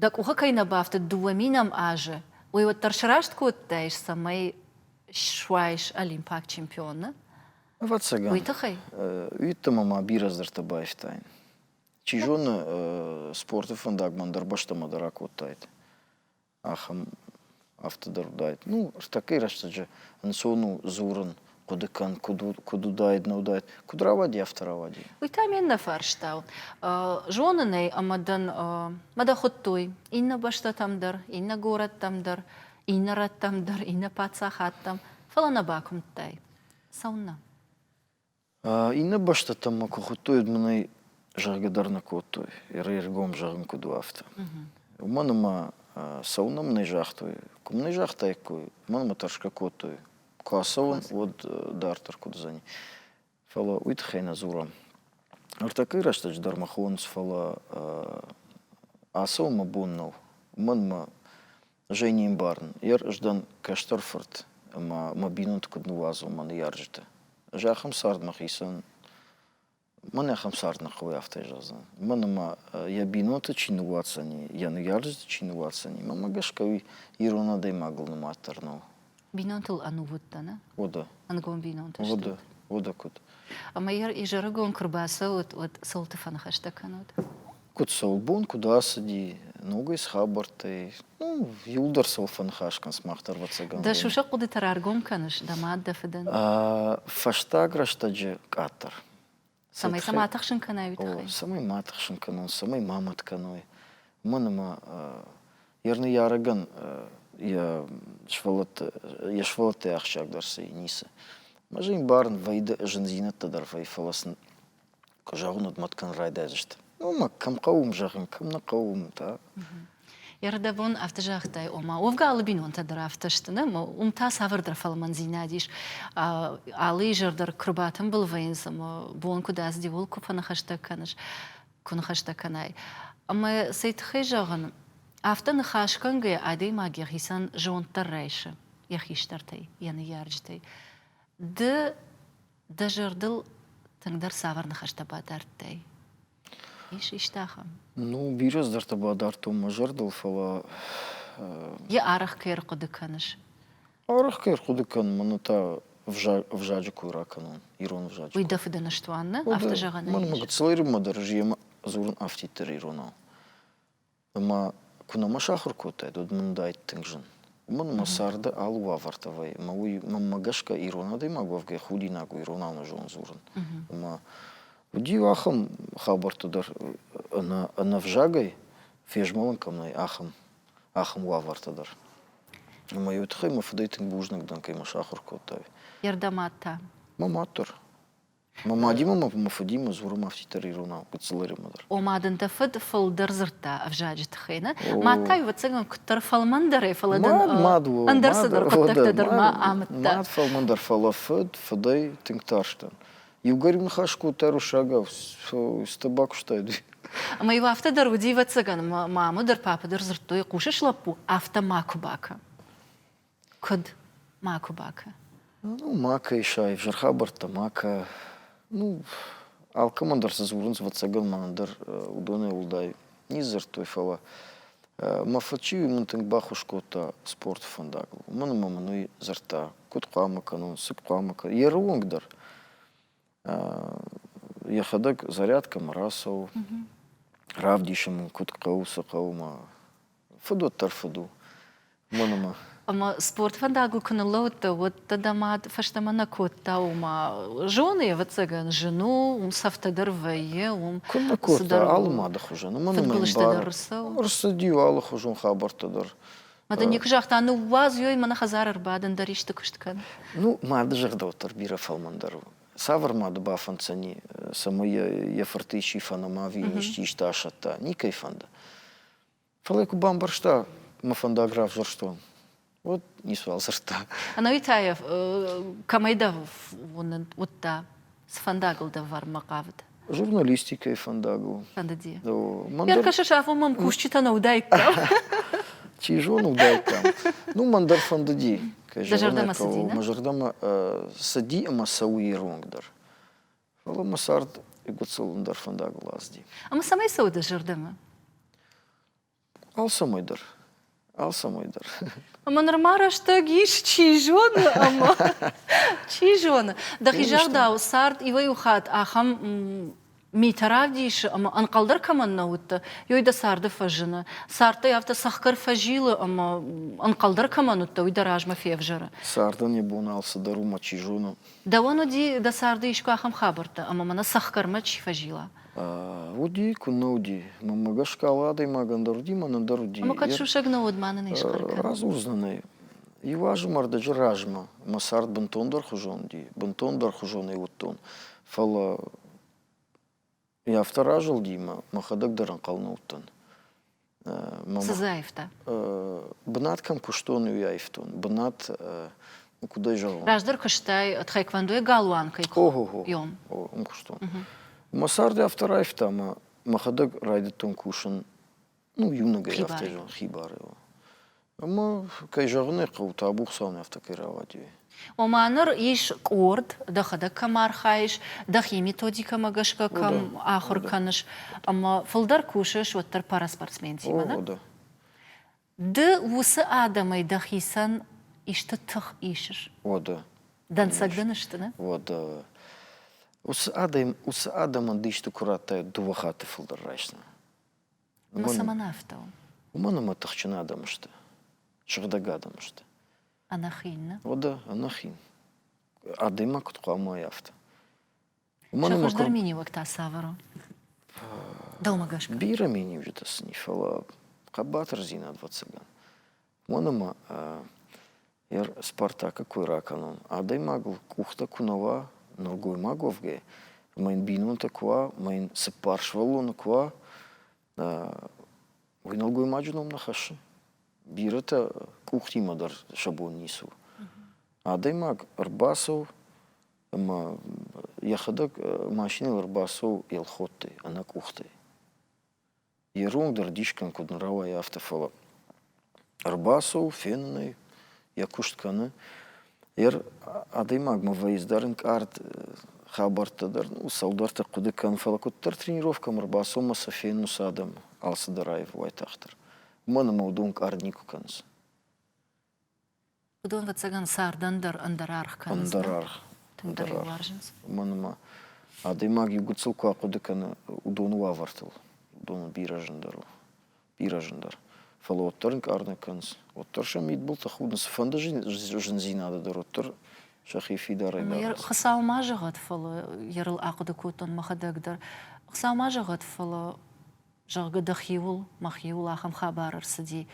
Дӕ къухы кӕй нӕ бафтыд дыууӕ минӕм азы, уый уӕддӕр сраст кодтаис, цӕмӕй суайыс олимпаг чемпионы? Ӕвӕццӕгӕн. Уый тыххӕй? Уйддӕмӕ ма бирӕ дзырдтӕ байстаин. Чи зоны, спорты фӕндаг мӕн дӕр бӕстӕмӕ дӕр акодтаид. Ахӕм афтӕдӕр уыдаид. Ну, ӕртӕккӕй рӕстӕджы ӕнцон у дзурын, хъуыды кӕн, куыд, куыд уыдаид, не уыдаид, куыд рауади, афтӕ рауади. Уый та ме ннӕфарста. Зонын ӕй, ӕмӕ дӕн, мӕ дӕ хуыдтой иннӕ бӕстӕтӕм дӕр, иннӕ горӕттӕм дӕр, иннӕ рӕттӕм дӕр, иннӕ паддзахадтӕм, фӕлӕ нӕ бакуымдтай. Цӕуыннӕ? Иннӕ бӕстӕтӕм мӕ куы хуыдтой, уӕд мын ӕй зӕгъгӕ дӕр нӕ кодтой, ӕргом зӕгъын куыд у, афтӕ. Уымӕн ӕмӕ цӕуынӕн мын ӕй загътой. Куы мын ӕй загътаиккой, уымӕн ӕмӕ тӕрсгӕ кодтой. Куы ацӕуон, уӕд дарддӕр куыд уыдзӕни. Фӕлӕ уый тыххӕй нӕ дзурӕм. Ӕртӕккӕйы рӕстӕджы дӕр мӕ хонынц, фӕлӕ ацӕуын мӕ бон нӕу. Уымӕн ӕмӕ Женимбарн, йе рыздӕн кӕстӕр фырт ӕмӕ мӕ бинонты куыд ныууадзон мӕ ныййарджыты. Ӕз ахӕм цард мӕ хицӕн, мӕн ахӕм цард нӕ хъӕуы афтӕ зӕгъдзӕн. Мӕн ӕмӕ йӕ бинонты чи ныууадздзӕни, йӕ ныййарджыты чи ныууадздзӕни, мӕнмӕ гӕсгӕ уый ирон адӕймагыл нымаддӕр нӕу. бинонтыл ӕнувыд дӕ, нӕ? Уыды. Ӕнгом бинонтӕ сты. Уыды, уыды куыд. Ӕмӕ йӕ изӕрыгон куы рбацӕуыд, уӕд цӕлты фӕныхӕстӕ кӕнут? Куыд цӕуылбон, куыд ацыди, ногӕй схабӕрттӕй, ну, иуылдӕр сыл фӕныхас кӕн, сымах дӕр ӕвӕццӕгӕн. Дӕ сусӕг хъуыдыты раргом кӕныс, дӕ мад, дӕ фыдӕн? Фӕстаг рӕстӕджы къаддӕр. Цӕмӕй сӕ ма тыхсын кӕнай уый тыххӕй? Цӕмӕй ма тыхсын кӕнон, цӕмӕй ма мӕт кӕной. Уымӕн ӕмӕ йӕ ныййарӕгӕн йӕ сывӕллӕтты йе сывӕллӕттӕй ахсджиагдӕр цы и, ницы. Ӕмӕ зын ӕмбарын вӕййы зындзинӕдтӕ дӕр вӕй фӕлӕ сын куы зӕгъын, уӕд мӕт кӕнын райдайдзысты. Ну, мӕ кӕм хъӕуы, уым зӕгъын, кӕм нӕ хъӕуы, уым та. Ӕрдӕбон афтӕ загътай, ома уӕвгӕ алы бинонтӕ дӕр афтӕ сты, нӕ? Уым та цавӕрдӕр фӕлмӕндзинад ис. Алы изӕр дӕр куы рбатымбыл вӕййынц ӕмӕ бон куыд аздиуыл куы фӕныхӕстӕ кӕныс, куы ныхӕстӕ кӕнай. Ӕмӕ цӕй тыххӕй зӕгъын, афтӕ ныхас кӕнгӕйӕ адӕймаг йӕхицӕн зонд дӕр райсы йӕ хистӕртӕй, йӕ ныййарджытӕй. Ды дӕ зӕрдыл тынгдӕр цавӕр ныхӕстӕ бадардтай? Ис исты ахӕм? Ну, бирӕ здӕртӕ бадардтон мӕ зӕрдыл, фӕлӕ. Йӕ арӕх кӕй ӕрхъуыды кӕныс? Арӕх кӕй ӕрхъуыды кӕнын, мӕнӕ та ӕвзаджы кой ракӕнон, ирон ӕвзаджы. Уый дӕ фыды ныстуан нӕ? Афтӕ зӕгъӕн ӕй. Мӕнмӕ гыццылӕй рынмӕ дӕр ис, йемӕ дзурын афтиддӕр иронау. Ӕмӕ куы нӕма сахуыр кодтаид, уӕд мын уыдаид тынг зын. Уымӕн ӕмӕ царды алы уавӕртӕ вӕййы. Ӕмӕ уый, мӕнмӕ гӕсгӕ, ирон адӕймаг уӕвгӕйӕ худинаг у ирон ӕнӕзон дзурын. Ӕмӕ уыди иу ахӕм хабӕрттӕ дӕр, ӕнӕ, ӕнӕвзагӕй фезмӕлын кӕм нӕй, ахӕм, ахӕм уавӕртӕ дӕр. Ӕмӕ-иу тыххӕй мӕ фыдӕй тынг бузныг дӕн, кӕй мӕ сахуыр кодтай. Йе рдӕмад та? Мӕ мад дӕр. Мӕ мадимӕ мӕ мӕ фыдимӕ дзурым афтиддӕр иронау Гыццылӕримӕ дӕр. Ома дын дӕ фыд фылдӕр дзырдта ӕвзаджыты хай, нӕ? Мад та иуӕцӕгӕн куыддӕр фӕлмӕндӕрӕй, фӕлӕ дын ӕндӕр цыдӕр хъуыддӕгтӕ дӕр ма амыдта. Мад фӕлмӕндӕр, фӕлӕ фыд, фыдӕй тынг тарстӕн. Иугӕр иу ныхас кодтай руссагау, стӕ бакуыстай ды. Ӕмӕ-иу афтӕ дӕр уыди, ӕвӕццӕгӕн, маму дӕр, папа дӕр дзырдтой, хъусыс, лӕппу, афтӕ макуы бакӕн. Куыд? Макуы бакӕ. Ну, макӕй сайы, зыр хабӕрттӕ макӕ. Ну, алкӕмӕн дӕр цы дзурынц, ӕвӕццӕгӕн ма ӕндӕр уыдонӕй уӕлдай нидзырдтой, фӕлӕ мӕ фыд чи у, уый мын тынг баххуыс кодта спорты фӕндагыл. Уымӕн ӕмӕ мын уый дзырдта, куыд хъуамӕ кӕнон, цы хъуамӕ кӕнон, йе рыонг дӕр. йӕхӕдӕг зарядкӕмӕ рацӕуы равдисын мын куыд хъӕуы цы хъӕумӕ фыдуат дӕр фыд у уымӕн ӕмӕ ӕмӕ спорт фӕндагыл куы ныллӕудтӕ уӕд дӕ дӕ мад фӕстӕмӕ нӕ кодта уымӕ зоны ӕвӕццӕгӕн зын у уым цӕфтӕ дӕр вӕййы уым куыд нӕ кодта алы мады хуызӕн ӕмӕ ӕмӕ ӕрцыд-иу алыхуызон хабӕрттӕ дӕр Мада некуы загъта, ныууадз, ёй, мӕнӕ хӕдзар ӕрбадын, дӕр исты куыст кӕн. Ну, мады зӕрдӕвӕтар бирӕ фӕлмӕндӕр у. Цавӕр мады бафӕнддзӕни, цӕмӕй йӕ фырты исчи фӕнӕма ӕви йын исчи исты асӕтта? Никӕй фӕнды. Фӕлӕ куы бамбӕрста, мӕ фӕндаг равзӕрстон, уӕд ницы уал дзырдта. Ӕнӕуи та йӕ кӕмӕй дӕ уыдта? Цы фӕндагыл дӕвӕрынмӕ хъавыд? Журналистикӕйы фӕндагыл. Фӕндыди. Мӕн кӕсыс, афон мӕм кусджытӕ нӕ уыдаиккам. Чи зоны уыдаиккам. Ну, мӕн дӕр фӕндыди. Дӕ зӕрдӕмӕ цыди, Мӕ зӕрдӕмӕ цыди ӕмӕ цӕуы иронг дӕр. Фӕлӕ мӕ цард гуыцӕлын дӕр фӕндагыл ацыди. Ӕмӕ цӕмӕй цӕуы дӕ зӕрдӕмӕ? Алцӕмӕй дӕр. Алцӕмӕй дӕр. Ӕмӕ нырма рӕстӕг ис, чи зоны, ӕмӕ чи зоны. Дӕхи зӕрдӕ цард иуӕй-иу хатт ахӕм митӕ равдисы, ӕмӕ ӕнхъӕлдӕр кӕмӕн нӕ уыдтӕ, ёй дӕ царды фӕзыны. Цардтӕй афтӕ цӕхгӕр фӕзилы, ӕмӕ ӕнхъӕлдӕр кӕмӕн уыдтӕ, уый дӕ размӕ февзӕры. Цардӕн йӕ бон алцыдӕр у, мӕ чи зоны. Дӕуӕн уыди, дӕ царды искуы ахӕм хабӕрттӕ, ӕмӕ мӕнӕ цӕхгӕрмӕ чи фӕзила? Уыди, куы нӕ уыди. Мӕнмӕ гӕсгӕ алы адӕймагӕн дӕр уыди, мӕнӕн дӕр уыди. Ӕмӕ кӕд сусӕг нӕ уыд, ма нын ис хъӕргӕ? Радзурдзынӕн ӕй. Иу азы мардӕджы размӕ мӕ цард бынтондӕр хуызон уыди, бынтондӕр хуызонӕй уыдтон. Фӕлӕ йӕ афтӕ разылди мӕ мӕхӕдӕг дӕр ӕнхъӕл нӕ уыдтӕн. Цы дзы аивта? Бынат кӕм куыстон, уый аивтон. Бынат куыд ӕй зӕгъон? Раздӕр куыстай тхайквондойы галуанкӕй куыйом. Уым куыстон. Мӕ цард афтӕ раивта, ӕмӕ мӕхӕдӕг райдыдтон кусын. Ну, иунӕгӕй афтӕ зӕгъон, хибары. Ӕма, кӕй зӕгъын ӕй хъӕуы, табу Хуцауӕн афтӕ кӕй рауади. Ома ныр ис къорд, дӕхӕдӕг кӕм архайыс, дӕхи методикӕмӕ гӕсгӕ кӕм ахуыр кӕныс, ӕмӕ фылдӕр кусыс уӕддӕр параспортсментимӕ, нӕ? Ды уыцы адӕмӕй дӕхицӕн исты тых исыс? Уӕдӕ. Дӕнцӕг дын сты, нӕ? Уӕдӕ. Уыцы адӕм, уыцы адӕмӕн ды исты куы радтай, дыууӕ хатты фылдӕр райсдзынӕ. Уымӕн, цӕмӕн афтӕ у? Уымӕн ӕмӕ тыхджын адӕм сты, сыгъдӕг адӕм сты. Ӕнӕхин, не? О да, ӕнӕхин. Адӕймаг куыд хъуамӕ уай афтӕ. Уымӕн ӕмӕ хуыздӕр миниуӕг та цавӕр у? Дӕумӕ гӕсгӕ? Бирӕ миниуджытӕ сын и, фӕлӕ хъӕбатырдзинад, ӕвӕццӕгӕн. Уымӕн ӕмӕ Е Спартакӕ кой ракӕнон. Адӕймагыл къухтӕ куы нӕ уа, нӕлгоймаг уӕвгӕ, ӕмӕ йын бинонтӕ куы уа, ӕмӕ йын цыппар сывӕллоны куы уа, уый нӕлгоймаджы ном нӕ хӕссы. Бирӕтӕ къухтимӕ дӕр сӕ бон ницы у. Адӕймаг ӕрбацӕуы ӕмӕ йӕхӕдӕг машинӕйыл ӕрбацӕуы Елхоттӕй, ӕнӕ къухтӕй. Ирон дӕр дисгин куыд нӕ рауайы, афтӕ, фӕлӕ ӕрбацӕуы, фенын ӕй, йӕ куыст кӕны. Йе адӕймагмӕ вӕййынц дӕр ӕнкъард хабӕрттӕ дӕр, ну цалдӕртӕ хъуыды кӕны, фӕлӕ куыддӕр тренировкӕмӕ ӕрбацӕуынмӕ сӕ фенынц адӕм алцыдӕр аив уайтагъддӕр. Уымӕн ӕмӕ уыдон ӕнкъард никуы кӕнынц. Уыдон, ӕвӕццӕгӕн, цардӕн дӕр ӕндӕр аргъ кӕнынц. Ӕндӕр аргъ. Тынгдӕр иу уарзынц. Мӕнӕ ма адӕймаг иу гыццыл куы ахъуыды кӕны уыдоны уавӕртыл, уыдоны бирӕ зындӕр у. Бирӕ зындӕр. Фӕлӕ уӕддӕр ӕнкъар нӕ кӕнынц. Уӕддӕр сӕ мидбылты худынц. Цыфӕнды зындзинады дӕр уӕддӕр сӕхи фидарӕй дарынц. Хуыцау ма зӕгъӕд, фӕлӕ йӕ рыл ахъуыды кодтон мӕхӕдӕг дӕр. Хуыцау ма зӕгъӕд, фӕлӕ зӕгъгӕ, дӕхиуыл, мӕхиуыл ахӕм хабар ӕрцыди,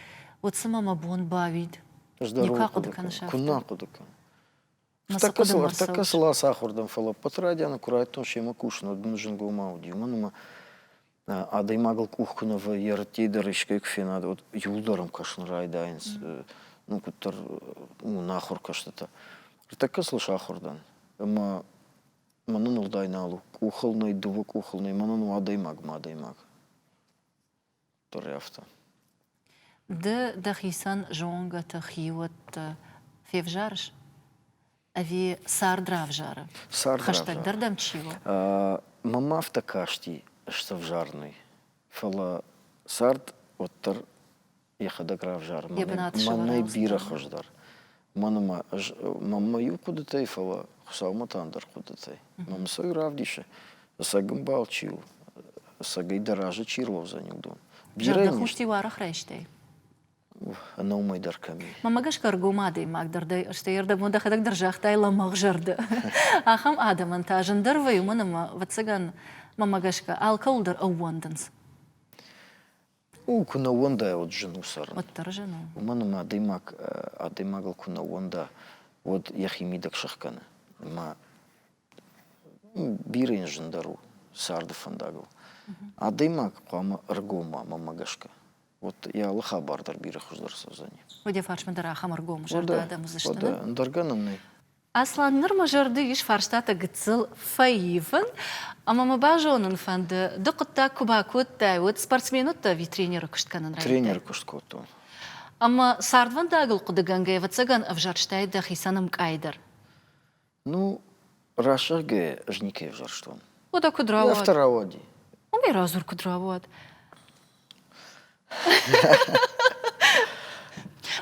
уӕд цымӕ мӕ бон бауид? Ӕз дӕр никуы ахъуыды кӕнын сӕ Куыннӕ ахъуыды кӕн. Ӕртӕккӕ сыл, ӕртӕккӕ сыл ацахуыр дӕн, фӕлӕ ӕппӕты райдианы куы райдтон семӕ кусын, уӕд мын зынгомӕ уыди, уымӕн ӕмӕ адӕймагыл къух куы нӕ вӕййы, ӕрттӕй дӕр искӕй куы фенад, уӕд иууылдӕр ӕм кӕсын райдайынц, ну, куыддӕр уынӕхуыр кӕстытӕ. Ӕртӕккӕ сыл сахуыр дӕн, ӕмӕ Мӕнӕн уӕлдай нал у. Къухыл нӕй, дыууӕ къухыл нӕй, мӕнӕн у адӕймаг мӕ адӕймаг. Дӕр афтӕ. Ды дӕхицӕн зонгӕты хиуӕтты февзарыс? Ӕви цард равзары? Цард Хӕстӕгдӕр дӕм чи у? Мӕм афтӕ касти сӕвзарынӕй. Фӕлӕ цард уӕддӕр йӕхӕдӕг равзарын. Мӕнӕй бирӕ хуыздӕр. Мӕн ӕмӕ ӕз мӕнмӕ иу хъуыдытӕй, фӕлӕ Хуыцаумӕ та ӕндӕр хъуыдытӕй. Мӕ мысӕй равдисы, ӕцӕг ӕмбал чи у, ӕцӕгӕй дӕ разы чи рауадзӕни, уыдон. Бирӕ дӕ хъусти уаргъ райстай? ӕнӕумӕй дӕр кӕм и. Мамӕ гӕсгӕ ӕргом адӕймаг дӕр дӕ, стӕй ӕрдӕбон дӕхӕдӕг дӕр загътай лӕмӕгъ зӕрдӕ. Ахӕм адӕмӕн та зындӕр вӕййы, уымӕн ӕмӕ, ӕвӕццӕгӕн, мамӕ гӕсгӕ алкӕуыл дӕр ӕууӕндынц. У куы нӕ ууӕндайа, уӕд зын у цӕрын. Уӕддӕр зын у. Уымӕн ӕмӕ адӕймаг адӕймагыл куы нӕ ууӕнда, уӕд йӕхи мидӕг сыхкӕны. Ӕмӕ бирӕ йын зындӕр у царды фӕндагыл. Адӕймаг хъуамӕ ӕргом уа, мӕмӕ гӕсгӕ. Вот йӕ алы хабар дӕр бирӕ хуыздӕр цӕудзӕни. Уӕдӕ фарсмӕ дӕр ахӕм ӕргом зӕрдӕ адӕм уыдзысты, нӕ? Ӕндӕр гӕнӕн нӕй. Аслан, ныр мӕ зӕрды ис фарстатӕ гыццыл фӕивын, ӕмӕ мӕ базонын фӕнды, ды хъуыддаг куы бакодтай, уӕд спортсмен уыдтӕ ӕви тренеры куыст кӕнын райдыдтай? Тренеры куыст кодтон. Ӕмӕ цардвӕндагыл хъуыдыгӕнгӕ ӕвӕццӕгӕн ӕвзӕрстай дӕхицӕн ӕмкъай дӕр. Ну, рӕсугъгӕ ӕз никӕй ӕвзӕрстон. Уӕдӕ куыд рауад? Афтӕ рауади. Уымӕй радзур, куыд рауад.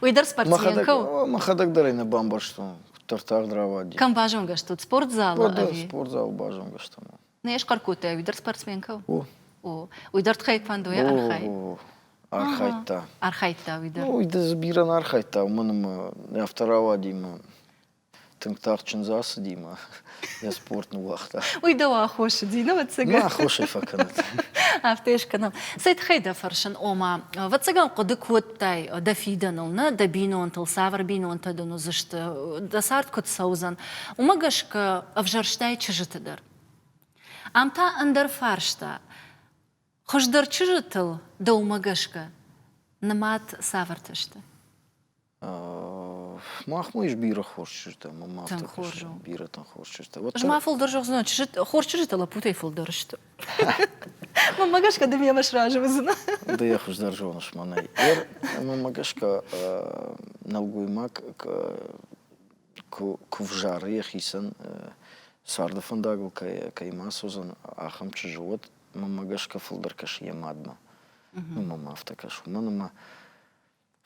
Уый дӕр спортсмен кӕ у? Мӕхӕдӕг дӕр ӕй нӕ бамбӕрстон, куыддӕр тагъд рауади. Кӕм базонгӕ стут? Спортзал? Ӕви? Спортзалы базонгӕ стӕм. Нӕ схъӕр кодтай, уый дӕр спортсмен кӕ у? О. О. Уый дӕр тхайквондойӕ архай? О, о, архайдта. Архайдта уый дӕр? Ну, уый дӕр бирӕ нӕ архайдта, уымӕн ӕмӕ афтӕ рауади ӕмӕ Тынг тагъд чындз ацыди мӕ йӕ спорт ныууагъта. Уый дӕу аххосыди, ну, ӕцӕгӕй? Мӕ аххосӕй фӕкӕнӕд. Афтӕ скӕнӕм. Цӕй тыххӕй дӕ фӕрсын, ома, ӕвӕццӕгӕн хъуыды кодтай дӕ фидӕныл, нӕ дӕ бинонтыл цавӕр бинонтӕ дын уыдзысты, дӕ цард куыд цӕудзӕн, уымӕ гӕсгӕ ӕвзӕрстай чызджыты дӕр. Ам та ӕндӕр фарста. Хуыздӕр чызджытыл дӕумӕ гӕсгӕ нымад цавӕртӕ сты? Мах ма ис бирӕ хорз чызджытӕ, мӕ ма афтӕ фыссын, бирӕтӕн хорз чызджытӕ. Ӕз ма фылдӕр зӕгъдзынӕн, хорз чызджытӕ лӕппутӕй фылдӕр сты. Мамӕ гӕсгӕ ды мемӕ сразы уыдзынӕ? Ды йӕ хуыздӕр зоныс мӕнӕй. Ер мамӕ гӕсгӕ нӕлгоймаг куы взары йӕхицӕн царды фӕндагыл кӕй ма суыдзӕн ахӕм чызджы, уӕд мамӕ гӕсгӕ фылдӕр кӕсы йӕ мадмӕ. Уымӕ ма афтӕ кӕсы. Уымӕн ӕмӕ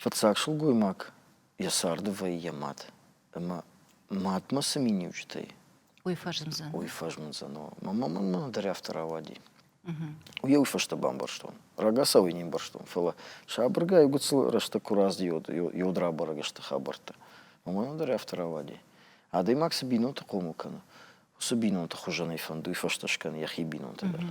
Фыццаг сылгоймаг йӕ царды вӕййы йӕ мад. Ӕмӕ мадмӕ цы миниуджытӕй Уый фӕзмдзӕн. уый фӕзмындзӕн. о. Мамӕ мӕнмӕ дӕр афтӕ рауади. Уый фӕстӕ бамбӕрстон. Рагацауӕй не мбӕрстон, фӕлӕ сабыргай гуыцыл рӕстӕг куы раздӕхи йод, йод, йод рабӕрӕг сты хабӕрттӕ. Мамӕмӕ дӕр афтӕ рауади. Адӕймаг цы бинонты хъомыл кӕны, уыцы бинонты хуызӕн ӕй фӕнд, уый фӕстӕ скӕны йӕхи бинонты дӕр.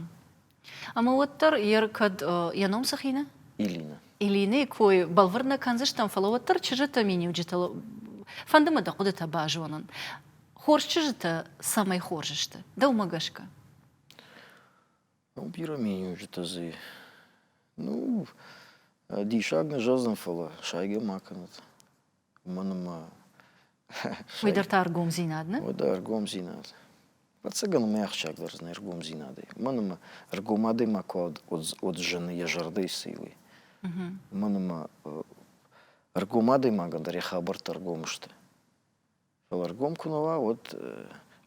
Ӕмӕ уӕддӕр йе ркӕд йӕ ном цы хины? Илина. Илинӕйы кой бӕлвырд нӕ кӕндзыстӕм, фӕлӕ уӕддӕр чызджытӕ, миниуджытыл фӕнды мӕ дӕ хъуыдытӕ базонын. Хорз чызджытӕ цӕмӕй хорз сты, дӕумӕ гӕсгӕ? Ну, бирӕ миниуджытӕ дзы. Ну, диссаг нӕ зӕгъдзӕн, фӕлӕ сайгӕ ма кӕнӕд. мӕнмӕ уый дӕр та ӕргомдзинад нӕ уӕдӕ ӕргомдзинад ӕцӕгӕн мӕ ахсджиаг дӕр зыны ӕргомдзинадӕй мӕнмӕ ӕргом адӕймаг куы уыдзӕн йӕ зӕрдӕйы цы уый мӕнмӕ ӕргом адӕймагӕн дӕр йӕ хабӕрттӕ ӕргом сты фӕлӕ ӕргом куы нӕ уа уӕд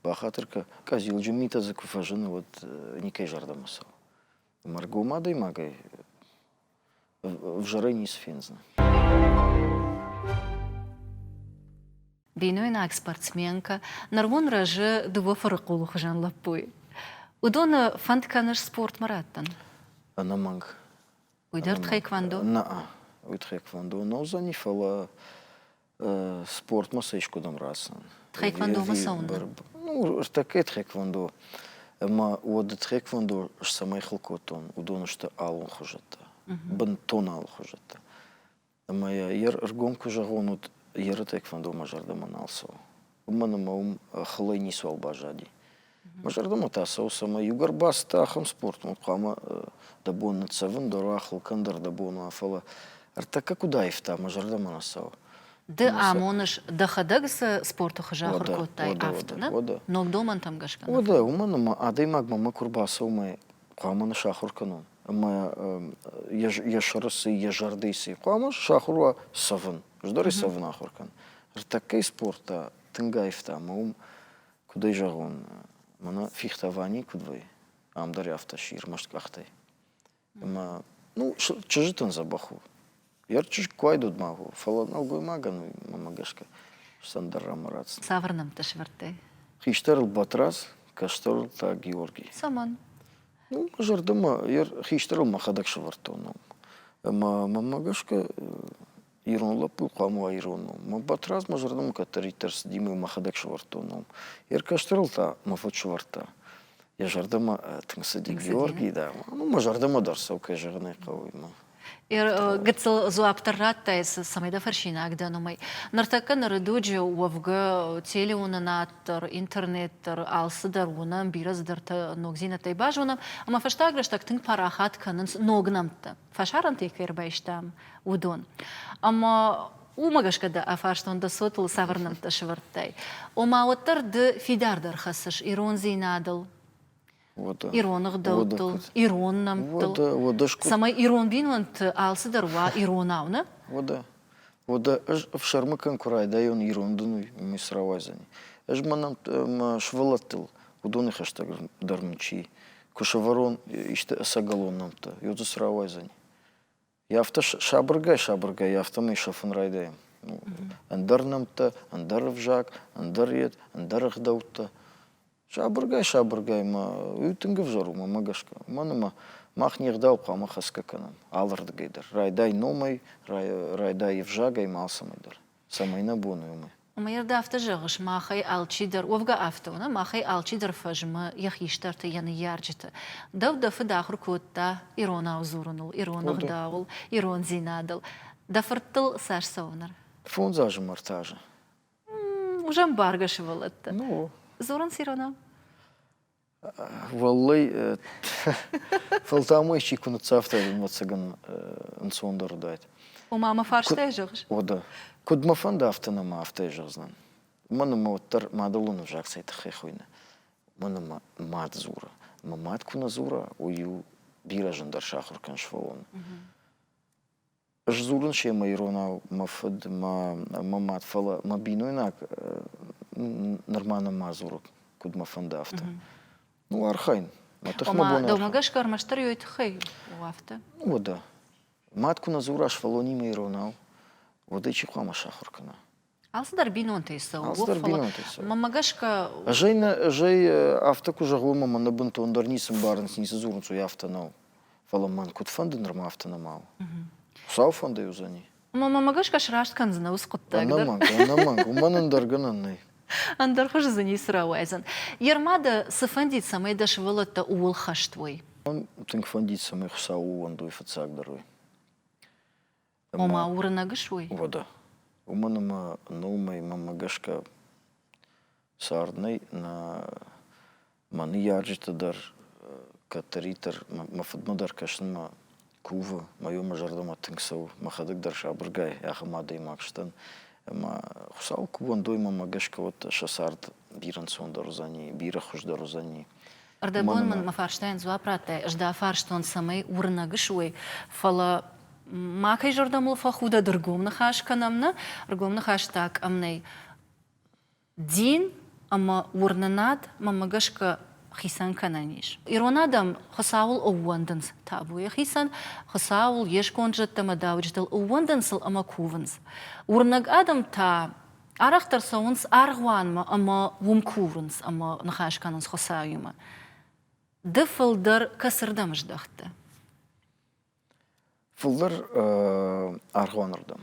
бахатыр кӕ къӕдзилджын митӕ дзы куы фӕзыны уӕд никӕй зӕрдӕмӕ цӕуы ӕмӕ ӕргом адӕймагӕй Взры не сфендзынӕ. Бинойнаг спортсменкӕ нырмон рӕзы дыууӕ фырыхъулы хуызӕн лӕппуйы. Уыдоны фӕнд кӕныс спортмӕ раттын? Ӕнӕмӕнг. Уый дӕр тхэквондо? Нӕ, уый тхэквондо нӕ уыдзӕни, фӕлӕ спортмӕ сӕ искуыдӕм рацӕн. Тхэквондомӕ цӕуын? Ну, ӕртӕккӕ тхэквондо ӕмӕ уӕды тхэквондо цӕмӕй хыл кодтон, уыдон сты алон хуызӕттӕ, бынтон алы хуызӕттӕ. Ӕмӕ йӕ ӕргом куы зӕгъон, уӕд йе ры тхэквондо мӕ зӕрдӕмӕ нал цӕуы. уымӕн ӕмӕ уым хылӕй ницуал баззади. Мӕ зӕрдӕмӕ та цӕуы, цӕмӕй иугӕр бацыд ахӕм спортмӕ, хъуамӕ дӕ бон ныццӕвын дӕр уа, хыл кӕн дӕр дӕ бон уа, фӕлӕ ӕртӕккӕ куыд аивта, мӕ зӕрдӕмӕ нӕ цӕуы. Ды амоныс, дӕхӕдӕг цы спорты хуызы ахуыр кодтай, афтӕ, да? Ног домӕнтӕм гӕсгӕ. Уӕдӕ, уымӕн ӕмӕ адӕймагмӕ мӕ куы рбацӕуы мӕ хъуамӕ ныссахуыр кӕнон. ӕмӕ йӕ сырысы, йӕ зӕрдыйы цы хъуамӕ сахуыр уа цӕвын. Ӕздӕрӕй цӕвын ахуыр кӕн. Ӕртӕккӕйы спортта тынг аивта ӕмӕ уым, куыд ӕй зӕгъон, мӕнӕ фехтование куыд вӕййы, ам дӕр афтӕ сси ӕрмӕст къӕхтӕй. Ӕмӕ, ну, чызджытӕн дзӕбӕх у. Йӕ чызг куы айдут ма хо, фӕлӕ нӕлгоймагӕн мӕмӕ гӕсгӕ сӕндӕррӕмӕ ратдзӕн. Цавӕр нӕмттӕ сӕвӕрдтай? Хистӕрыл Батраз, кӕстӕрыл та Георгий. Цӕмӕн? Ну, мӕ зӕрдӕмӕ йӕ хистӕрыл мӕхӕдӕг сӕвӕрдтон ном. Ӕмӕ мӕмӕ гӕсгӕ ирон лӕппу хъуамӕ уа ирон ном. Мӕ Батраз мӕ зӕрдӕмӕ кӕддӕриддӕр цыди мӕ мӕхӕдӕг сӕвӕрдтон ном. Йӕ кӕстӕрыл та мӕ фыд сӕвӕрдта. Йӕ зӕрдӕмӕ тынг цыди Тынг цыди, Георгий, да. Ӕмӕ мӕ зӕрдӕмӕ дӕр цӕуы, кӕй зӕгъын ӕй хъӕуы, мӕ гыццыл дзуапп дӕр радтай, цӕмӕй дӕ фӕрсинаг дӕн уымӕй. Ныртӕккӕ ныры дуджы уӕвгӕ телеуынынад дӕр, интернет дӕр, алцыдӕр уынӕм, бирӕ цыдӕртӕ ногдзинӕдтӕй базонӕм, ӕмӕ фӕстаг рӕстӕг тынг парахат кӕнынц ног нӕмттӕ, фӕсарӕнтӕй кӕй ӕрбайстам, уыдон. Ӕмӕ уымӕ гӕсгӕ дӕ афарстон, дӕ цотыл цавӕр нӕмттӕ сӕвӕрдтай. Ома, уӕддӕр ды фидардӕр хӕцыс ирондзинадыл, уӕдӕ ирон ӕгъдӕуттыл, уӕдӕ ирон нӕмттыл, уӕдӕ, уӕдӕ скъуыд... цӕмӕй ирон бинонты алцыдӕр уа иронау, нӕ? Уӕдӕ, уӕдӕ ӕз ӕфсӕрмы кӕн куы райдайон ирон дын уый, мис рауайдзӕни. Ӕз мӕнӕ мӕ сывӕллӕттыл уыдоны хӕстӕг дӕр мын чи куы сӕвӕрон исты ӕцӕгӕлон нӕмттӕ, йод дзы срауайдзӕни. Йӕ афтӕ сабыргай-сабыргай афтӕмӕй сӕфын райдайӕм. Ӕндӕр нӕмттӕ, ӕндӕр ӕвзаг, ӕндӕр йед, ӕндӕр ӕгъдӕуттӕ. Сабыргай-сабыргай ма уый тынг ӕвзӕр у, мӕ гӕсгӕ. Уымӕн ӕмӕ мах не гъдау хъуамӕ хӕцгӕ кӕнӕм алырдыгӕй дӕр. Райдай номӕй, райдай ӕвзагӕй ма алцӕмӕй дӕр. Цӕмӕй нӕ бон у уымӕ? Уымӕй ӕрды афтӕ зӕгъыс, махӕй алчидӕр, уӕвгӕ афтӕ у, нӕ, махӕй алчидӕр фӕзмы йӕ хистӕрты, йӕ ныййарджыты. Дӕу дӕ фыд ахуыр кодта иронау дзурыныл, ирон ӕгъдауыл, ирондзинадыл. Дӕ фырттыл цас цӕуы ныр? Фондз азы ӕмӕ ӕртӕ азы. М, Уызӕн бӕргӕ сывӕллӕттӕ. Ну. Дзурынц иронау? Уӕллӕй, фӕлтау-мӕйчи куы ныццавтай, ӕвӕццӕгӕн, ӕнцондӕр уыдаид. Ома мӕ фарстӕй зӕгъыс? О, да. Куыд мӕ фӕнды, афтӕ нӕ ма афтӕ зӕгъдзынӕн. Мӕн ӕмӕ уӕддӕр мадӕлон ӕвзаг цӕй тыххӕй хуыйны? Мӕн ӕмӕ мад дзуры. Мӕ мад куы нӕ дзура, уый-иу бирӕ зындӕр сахуыр кӕн сфӕуон. Сдзурын семӕ иронау мӕ фыд, мӕ, мӕ мад, фӕлӕ мӕ бинойнаг нырма нӕма дзуры, куыд мӕ фӕнды, афтӕ. Ну, архайын. Мӕ тыхмӕ бон Дӕумӕ гӕсгӕ ӕрмӕстдӕр йой тыххӕй у афтӕ? О, да. Мад куы нӕ дзура сфӕлонимӕ иронау, уӕд ӕй чи хъуамӕ сахуыр кӕна? Алцыдӕр бинонтӕй цӕуы. Алцыдӕр бинонтӕй цӕуы. Мӕмӕ гӕсгӕ Зӕй нӕ, зӕй афтӕ куы зӕгъой, мӕ мӕ бынтондӕр ницы ӕмбарынц, ницы дзурынц, уый афтӕ нӕу. Фӕлӕ мӕн куыд фӕнды, нырма афтӕ нӕма у. Хуыцауфӕндӕй уыдзӕни. Мӕмӕ гӕсгӕ сраст кӕндзынӕ ус хъуыддаг дӕр. Ӕнӕмӕнг, ӕнӕмӕнг, уымӕн ӕндӕр гӕнӕн нӕй. Ӕндӕр хуыз дзы ницы рауайдзӕн. Йе рма дӕ цы фӕндид, цӕмӕй дӕ сывӕллӕттӕ ууыл хӕст уой? Мӕн тынг фӕндид, цӕмӕй Хуыцау ууӕндой фыццагдӕр уый. Ома уырнӕг суой? Вода. Уымӕн ӕмӕ нормӕимӕ гӕсгӕ цард нӕй. Нӕ мӕ ныййарджыты дӕр кӕддӕриддӕр мӕ фыдмӕ дӕр кӕсынмӕ кувы. Мӕ иумӕ зӕрдӕмӕ тынг цӕуы, мӕхӕдӕг дӕр сабыргай ахӕм адӕймаг сдӕн. Ӕмӕ Хуыцауы кувӕндоимӕ гӕсгӕ уӕд сӕ цард бирӕ ӕнцондӕр уыдзӕни, бирӕ хуыздӕр уыдзӕни. Ӕрдӕбон мын мӕ фарстайӕн дзуапп радтай, ӕз дӕ фарстон, цӕмӕй уырнӕг суой, фӕлӕ макӕй зӕрдӕмыл фӕхудӕд ӕргом ныхас кӕнӕм, нӕ? Ӕргом ныхас та кӕм нӕй. Дин ӕмӕ уырнынад мӕмӕ гӕсгӕ хицӕн кӕнӕн ис. Ирон адӕм Хуыцауыл ӕууӕндынц табуйы хицӕн, Хуыцауыл, йе сконд зӕдтӕ ӕмӕ дауджытыл ӕууӕндынц сыл ӕмӕ кувынц. Уырнӕг адӕм та Арӕхдӕр цӕуынц аргъуанмӕ ӕмӕ уым курынц ӕмӕ ныхас кӕнынц Хуыцауимӕ. Ды фылдӕр кӕцырдӕм здӕхты? Фылдӕр аргъуанырдӕм.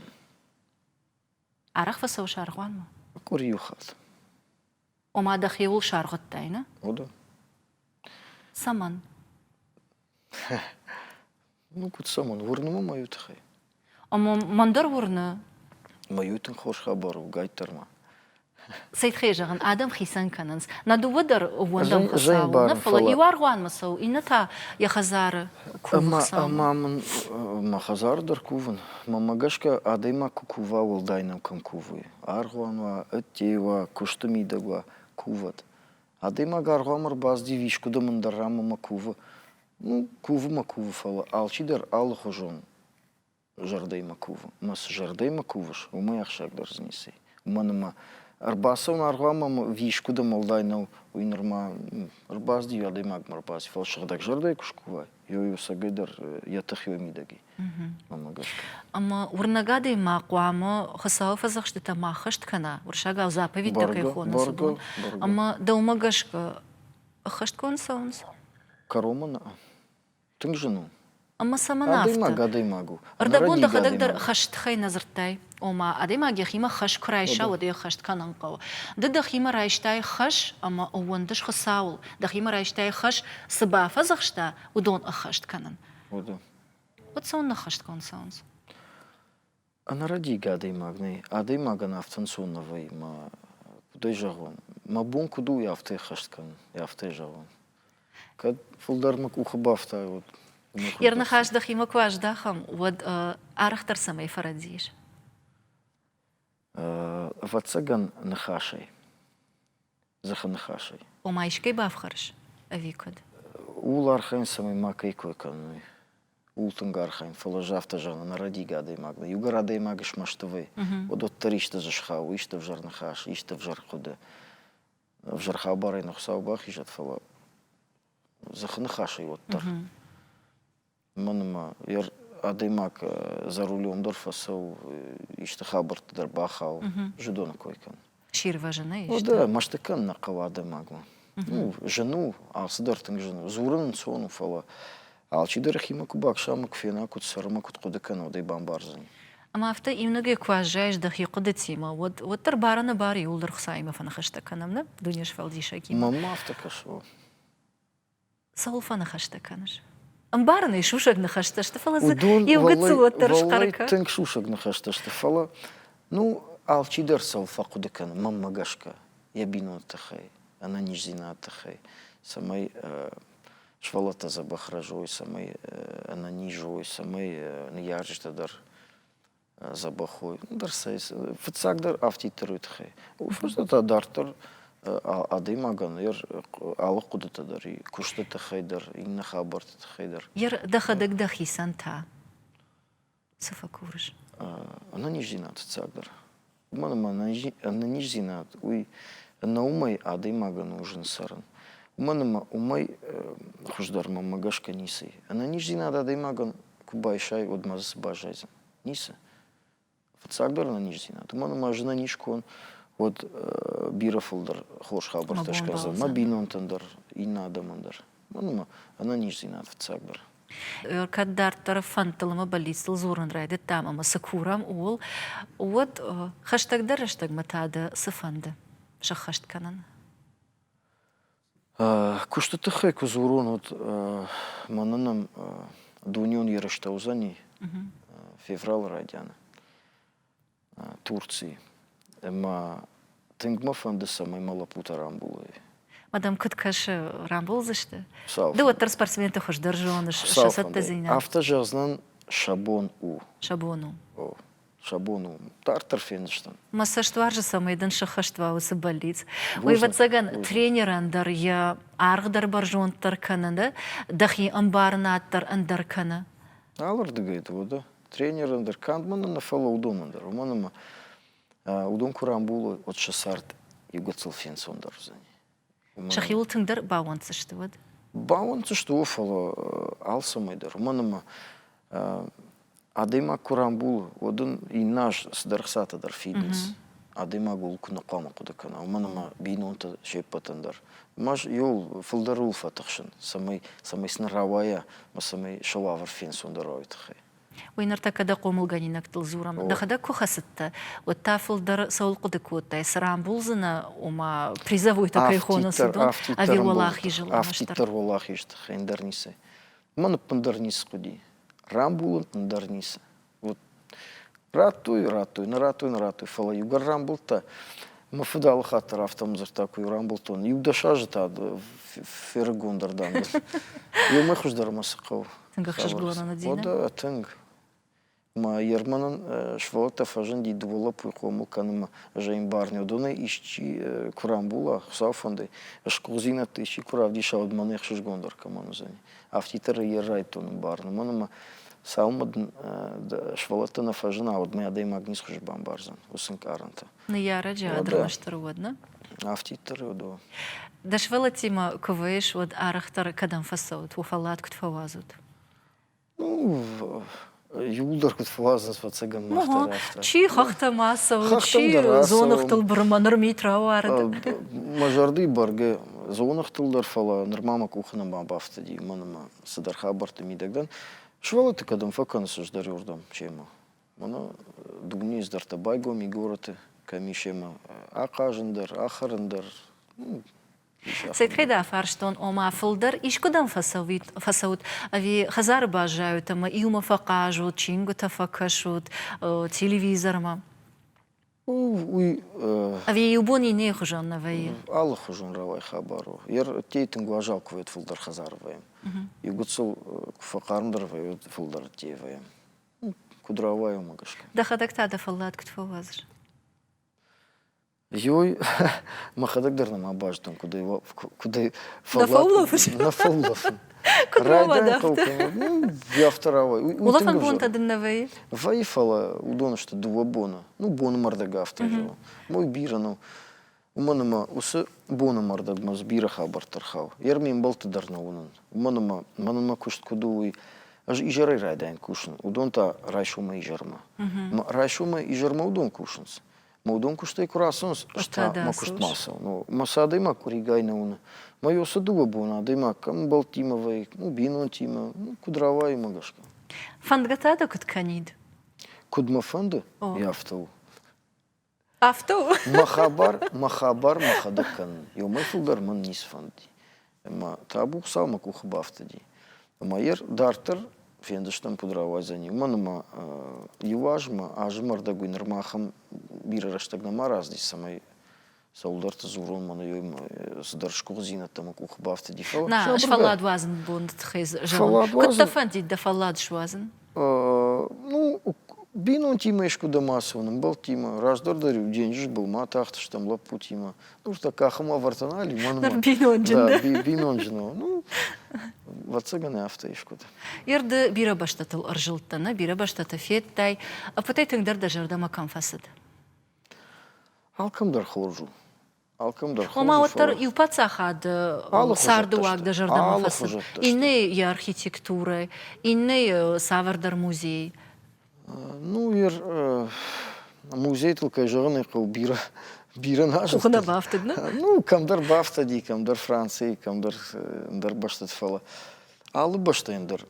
Арӕх фӕцӕуыс аргъуанмӕ? Къуыри иу хатт. Ома дӕхиуыл саргъуыдтай, нӕ? Уыды. Цӕмӕн? Ну, куыд цӕмӕн? Уырны мӕ мӕ тыххӕй. Ӕмӕ мӕн дӕр уырны. Мӕ иу тынг хорз хабар угайддӕр ма. Цы тыххӕй зӕгъын, адӕм хицӕн кӕнынц. Нӕ дыууӕ дӕр ууӕндӕм Хуыцауыл, нӕ, фӕлӕ иу аргъуанмӕ цӕуы, иннӕ та йӕ хӕдзары кувы Ӕмӕ мын мӕ хӕдзары дӕр кувын. Мӕнмӕ гӕсгӕ, адӕймаг куы кува, уӕлдай нӕм кӕм кувы, Аргъуан уа, ӕдтей уа, куысты мидӕг уа, кувӕд. Адӕймаг аргъуан ӕрбаздив искуыдӕм ӕндӕр ранмӕ мӕ кувы. Ну, кувы мӕ кувы, фӕлӕ алчидӕр алыхуызон зӕрдӕимӕ кувы. Мӕ цы зӕрдӕимӕ кувыс, уымӕй ахсӕгдӕр дзы ници. Уымӕн ӕмӕ ӕрбацӕуын аргъуанмӕ ӕмӕ искуыдӕм уӕлдай нӕу, уый нырма ӕрбаздив, адӕймагмӕ ӕрбаздив. Фӕлӕ сыгъдӕг зӕрдӕйы куы скувай, ёй, ӕцӕгӕйдӕр йӕ тых ёй мидӕг и. Ӕмӕ уырнӕг адӕймаг хъуамӕ Хуыцауы фӕдзӕхстытӕ ма ӕххӕст кӕна, уырсагау заповедьтӕ кӕй хонынц, уыдон. Ӕмӕ дӕумӕ гӕсгӕ ӕххӕстгонд цӕуынц? Кӕронмӕ нӕ. Тынг зын у. Ӕмӕ цӕмӕн афтӕ? Адӕймаг адӕймаг у. Ӕрдӕбон дӕхӕдӕг дӕр хӕст хӕй нӕ дзырдтай? Ома, адӕймаг йӕхимӕ хӕс куы райса, уӕд ӕй ӕххӕст кӕнын хъӕуы. Ды дӕхимӕ райстай хӕс ӕмӕ ӕууӕндыс Хуыцауыл, дӕхимӕ райстай хӕс, цы бафӕдзӕхста, уыдон ӕххӕст кӕнын. Уӕд цӕуын ныххӕстгонд цӕуынц? Ӕнӕрӕдигӕ адӕймаг нӕй. Адӕймагӕн афтӕнцон нӕ вӕййы мӕ куыд ӕй зӕгъон? Мӕ бон куыд у йӕ афтӕ ӕххӕст кӕнын, йӕ афтӕ зӕгъон? Кӕд фылдӕр мӕ къухы бафтайы, уӕд мӕ куыд Йӕ ныхас дӕхимӕ куы аздахӕм, уӕд арӕхдӕр цӕмӕй фӕрӕдзис? Ӕвӕццӕгӕн, ныхасӕй. Дзыхы ныхасӕй. Ома искӕй бафхӕрыс? Ӕви куыд? Ууыл архайын, цӕмӕй макӕй кой кӕной. Ууыл тынг архайын, фӕлӕ ӕз афтӕ зӕгъын, ӕнӕрӕдиг адӕймаг нӕ. Иугӕр адӕймаг смӕсты вӕй, уӕд уӕддӕр исты дзы схауы, исты ӕвзӕр ныхас, исты ӕвзӕр хъуыды. Ӕвзӕр хабарӕй нӕ Хуыцау бахизӕд, фӕлӕ дзыхы ныхасӕй уӕддӕр. Мӕнмӕ йӕ адӕймаг за рулем дӕр фӕцӕуы, исты хабӕртты дӕр бахауы, зыдоны кой кӕны. Чи рвӕзын ӕй? Да, мӕсты кӕнын нӕ хъӕуы адӕймагмӕ. Ну, зын у, алцыдӕр тынг зын у. Дзурын ӕнцон у, фӕлӕ алчидӕр йӕхимӕ куы баксама, куы фена, куыд цӕры мӕ куыд хъуыды кӕна, уӕд ӕй бамбардзӕни. Ӕмӕ афтӕ иунӕгӕй куы аззайыс дӕхи хъуыдытимӕ, уӕд уӕддӕр бар-ӕнӕбары иууылдӕр Хуыцаимӕ фӕныхӕстӕ кӕнӕм, нӕ, Дунесфӕлдисӕгимӕ? Мӕнмӕ афтӕ кӕсы, о. Цӕуыл фӕныхӕстӕ кӕныс? Ӕмбарын ӕй, сусӕг ныхӕстӕ сты, фӕлӕ дзы уыдон иу гыццыл уӕддӕр схъӕркӕ. тынг сусӕг ныхӕстӕ сты, фӕлӕ, ну, алчидӕр цӕуыл фӕхъуыды кӕны, мӕнмӕ гӕсгӕ, йӕ бинонты тыххӕй, ӕнӕниздзинады тыххӕй, цӕмӕй сывӕллӕттӕ дзӕбӕх рӕзой, цӕмӕй ӕнӕниз уой, цӕмӕй ныййарджытӕ дӕр дзӕбӕхой. Ӕндӕр цӕй, фыццагдӕр афтиддӕр уый тыххӕй. Уый фӕстӕ та дарддӕр адӕймагӕн йӕ алы хъуыдыты дӕр, куысты тыххӕй дӕр, иннӕ хабӕрты тыххӕй дӕр. дӕхӕдӕг дӕхицӕн та цы фӕкурыс? Ӕнӕниздзинад фыццагдӕр. уымӕн ӕмӕ ӕнӕниздзинад уый нӕ уымӕй адӕймагӕн у зын цӕрын. Уымӕн ӕмӕ уымӕй хуыздӕр мӕмӕ гӕсгӕ ницы и. Ӕнӕниздзинад адӕймагӕн куы байсай, уӕд ма дзы цы баззайдзӕн? Ницы. Фыццагдӕр ӕнӕниздзинад. Уымӕн ӕмӕ ӕз ӕнӕниз куы уон, уӕд бирӕ фылдӕр хорз хабӕрттӕ скӕндзӕн мӕ бинонтӕн дӕр, иннӕ адӕмӕн дӕр. Мӕнмӕ ӕнӕниздзинад фыццагдӕр. Кӕд дарддӕр фӕндтыл ӕмӕ бӕллицтыл дзурын райдыдтам ӕмӕ цы курӕм, ууыл, уӕд хӕстӕгдӕр рӕстӕгмӕ та дӕ цы фӕнды сӕххӕст кӕнын? Куысты тыххӕй куы дзурон, уӕд мӕнӕ нӕм дунеон ерыстӕ уыдзӕни февралы райдианы. Турци. Ӕмӕ тынг мӕ фӕнды, цӕмӕй мӕ лӕппутӕ рамбулой. Мадам, куыд кӕсы, рамбулдзысты? Цалфӕнды. Ды уӕддӕр спортсменты хуыздӕр зоныс, сӕ цӕттӕдзинад. Афтӕ зӕгъдзынӕн, сӕ бон у. Сӕ бон у. О, сӕ бон у. Дарддӕр фендзыстӕм. Мӕ цӕст уарзы, цӕмӕй дын сыххӕст уа уыцы бӕллиц. Уый, ӕвӕццӕгӕн, тренерӕн дӕр йӕ аргъ дӕр бӕрзонддӕр кӕны, дӕ дӕхи ӕмбарынад дӕр ӕндӕр кӕны. Алырдыгӕй дӕ уӕдӕ. тренерӕн дӕр, канд мын нӕ, фӕлӕ уыдонӕн дӕр. Уымӕн ӕмӕ уыдон куы рамбулой, уӕд сӕ цард иугӕцыл фенцондӕр уыдзӕни. Сӕхиуыл тынгдӕр бауӕнддзысты уӕд? Бауӕнддзысты уы, фӕлӕ алцӕмӕй дӕр. Уымӕн ӕмӕ адӕймаг куы рамбулы, уӕд ын иннӕ аз цыдӕр хцатӕ дӕр фидынц. адӕймаг ууыл куы нхъуамӕ хъуыды кӕна, уымӕн ӕмӕ бинонтӕ се ппӕтӕн дӕр. Ма иу фылдӕр ууыл фӕтыхсын, цӕмӕй, цӕмӕй сын рауайа ӕмӕ цӕмӕй сӕ уавӕр фенцондӕр уа уый тыххӕй. Уый ныртӕккӕ дӕ хъомылгӕнинӕгтыл дзурӕм. Дӕхӕдӕг куы хӕцыдтӕ, уӕд та фылдӕр цӕуыл хъуыды кодтай, цы рамбулдзынӕ, ома призовойтӕ кӕй хоны Сидон ӕви уӕлахизы ламӕстӕр? Афтиддӕр уӕлахизы тыххӕй ӕндӕр ницы. Уымӕн ӕппындӕр ницы хъуыди. Рамбулын ӕндӕр ницы. Вот. Радтой, радтой, нӕ радтой, нӕ радтой, фӕлӕ иугӕр рамбылдта, мӕ фыд алы хатт дӕр афтӕ дзырдта, куы рамбылдтон. Иу-дӕс азы та фӕрыгондӕр дӕн. Иумӕ хуыздӕр мӕ цы хъӕуы. Тынг ӕхсызгон у Динӕ? Тынг. Мӕ Ерманӕн сывӕллӕттӕ фӕзынди дыууӕ лӕппуйы хъомыл кӕнынмӕ. Ӕз ӕй мбарин, уыдонӕй исчи куы рамбула, Хуыцауы фӕндӕй, сгуыхтдзинӕдты исчи куы равдиса, уӕд мӕн ӕхсызгондӕр кӕмӕн уыдзӕни. афтитры йӕ райдтон барын, уымӕн ӕмӕ сӕумӕ дын сывӕллӕтты нӕ фӕзына, уӕдмӕ адӕймаг ницы хуызы бамбардзӕн уыцы ӕнкъарӕнтӕ. Ныййарӕджы адӕмы стыр уд нӕ? Афтитры уд у. Дӕ сывӕллӕттимӕ куы уыйыс, уӕд арӕхдӕр кӕдӕм фӕцӕут, уӕ фӕллад куыд фӕуадзут? Ну, иууылдӕр куыд фӕуадзынц фӕцӕгӕнмӕ чи хӕхтӕ ма цӕуы чи дзоныгътыл бырымӕ ныр мит рауарыд мӕ зӕрдыйы бӕргӕ дзоныгътыл дӕр фӕлӕ нырма мӕ къухы нӕма бафтыди мӕн ӕмӕ цыдӕр хабӕртты мидӕг дӕн сывӕллӕтты кӕдӕм фӕкӕныс ӕздӕр уырдӕм семӕ мӕнӕ дунейы ӕздӕртӕ байгом и горӕты кӕм и семӕ ахъазын дӕр ахӕрын дӕр Сетхъеда фарстон, ома фылдӕр искуыдӕм фӕцӕут, ӕви хӕдзары баззайут ӕмӕ иумӕ фӕхъазут, чингуытӕ фӕкӕсут телевизормӕ? Уый. Ӕви иу бон иннӕйы хуызӕн нӕ вӕййы? Алыхуызон рауай хабар у. Йе рттӕй тынг уазал куы вӕййы фылдӕр хӕдзары вӕййӕм. Иу гыццыл куы фӕхъармдӕр вӕййы, уӕд фылдӕр ӕддейӕ вӕййӕм. Куыд рауайы, уымӕ гӕсгӕ. Дӕхӕдӕг та дӕ фӕллад куыд фӕуадзыс? Йой, мӕхӕдӕг дӕр нӕма бӕзтон, куыд ӕй куыд ӕй фӕллафын. Нӕ фӕллафын. Райдайын хъӕуы кӕнӕ ӕй афтӕ рауай. Улӕфӕн бонтӕ дын нӕ вӕййы? Вӕййы, фӕлӕ уыдон сты дыууӕ боны. Ну, боны мӕрдӕг афтӕ зӕгъы. Мой бирӕ нӕу. Уымӕн ӕмӕ уыцы боны мӕрдӕгмӕ дзы бирӕ хабӕрттӕ рхауы. Йе рме мбӕлтты дӕр нӕ уынын. Уымӕн ӕмӕ мӕнмӕ куыст куыд у, уый. Ӕз изӕрӕй райдайын кусын. Уыдон та райсомӕй изӕрмӕ. Мӕ райсомӕй изӕрмӕ уыдон кусынц. Мудон кустӕй куы рацӕуынц, ӕз та мӕ куыст ма цӕуы. Ну, мӕ цы адӕймаг къуыригай нӕ уыны. Мӕ йо цы дыууӕ боны адӕймаг кӕм бӕлттимӕ вӕййы, ну, бинонтимӕ, ну, куыд рауайы мӕ гӕсгӕ. Фӕндгӕ та дӕ куыд кӕнид? Куыд мӕ фӕнды? О. Йӕ афтӕ у. Афтӕ у? Мӕ хабар, мӕ хабар мӕхӕдӕг кӕнын. Ёмӕй фылдӕр мӕн ницы фӕнди. Ӕмӕ табу Хуыцау мӕ къухы бафтыди. Ӕмӕ йӕ дарддӕр фендзыстӕм, куыд рауайдзӕни. Уымӕн ӕмӕ иу азмӕ, азы мӕрдӕг уый нырма ахӕм бирӕ рӕстӕг нӕма раздис, цӕмӕй цӕуылдӕрты дзурон мӕнӕ цыдӕр сгуыхтдзинӕдтӕ мӕ къухы бафтыди. Нӕ, сфӕллад уадзыны бонды тыххӕй зӕгъӕм. Куыд дӕ фӕндид дӕ фӕллад суадзын? Ну, бинонтимӕ искуыдӕм ацӕуын, ӕмбӕлттимӕ. Раздӕр дӕр-иу денджыз был ма атахтыстӕм лӕппутимӕ. Ну, та къахым ӕвӕртӕ нал и мӕнмӕ. Бинонджын дӕ? Бинонджын. Ну, ӕвӕццӕгӕн афтӕ искуыд. Ерды бирӕ бӕстӕтыл ӕрзылдтӕ, нӕ? Бирӕ бӕстӕты федтай. Ӕппӕтӕй тынгдӕр дӕ зӕрдӕмӕ кӕм фӕцыд? Алкӕмдӕр хорз у. Ома уӕддӕр иу паддзахады цардыуаг дӕ зӕрдӕмӕ хӕцы, иннӕйы йӕ архитектурӕ, иннӕйы цавӕрдӕр музей. Ну, ир музейтыл, кӕй зӕгъын ӕй хъӕуы, бирӕ бирӕ нӕзылдтӕ. Куы нӕ бафтыд, нӕ? Ну, кӕмдӕр бафтӕди, кӕмдӕр Францийы, кӕмдӕр ӕндӕр бӕстӕты, фӕлӕ алы бӕстӕйӕн дӕр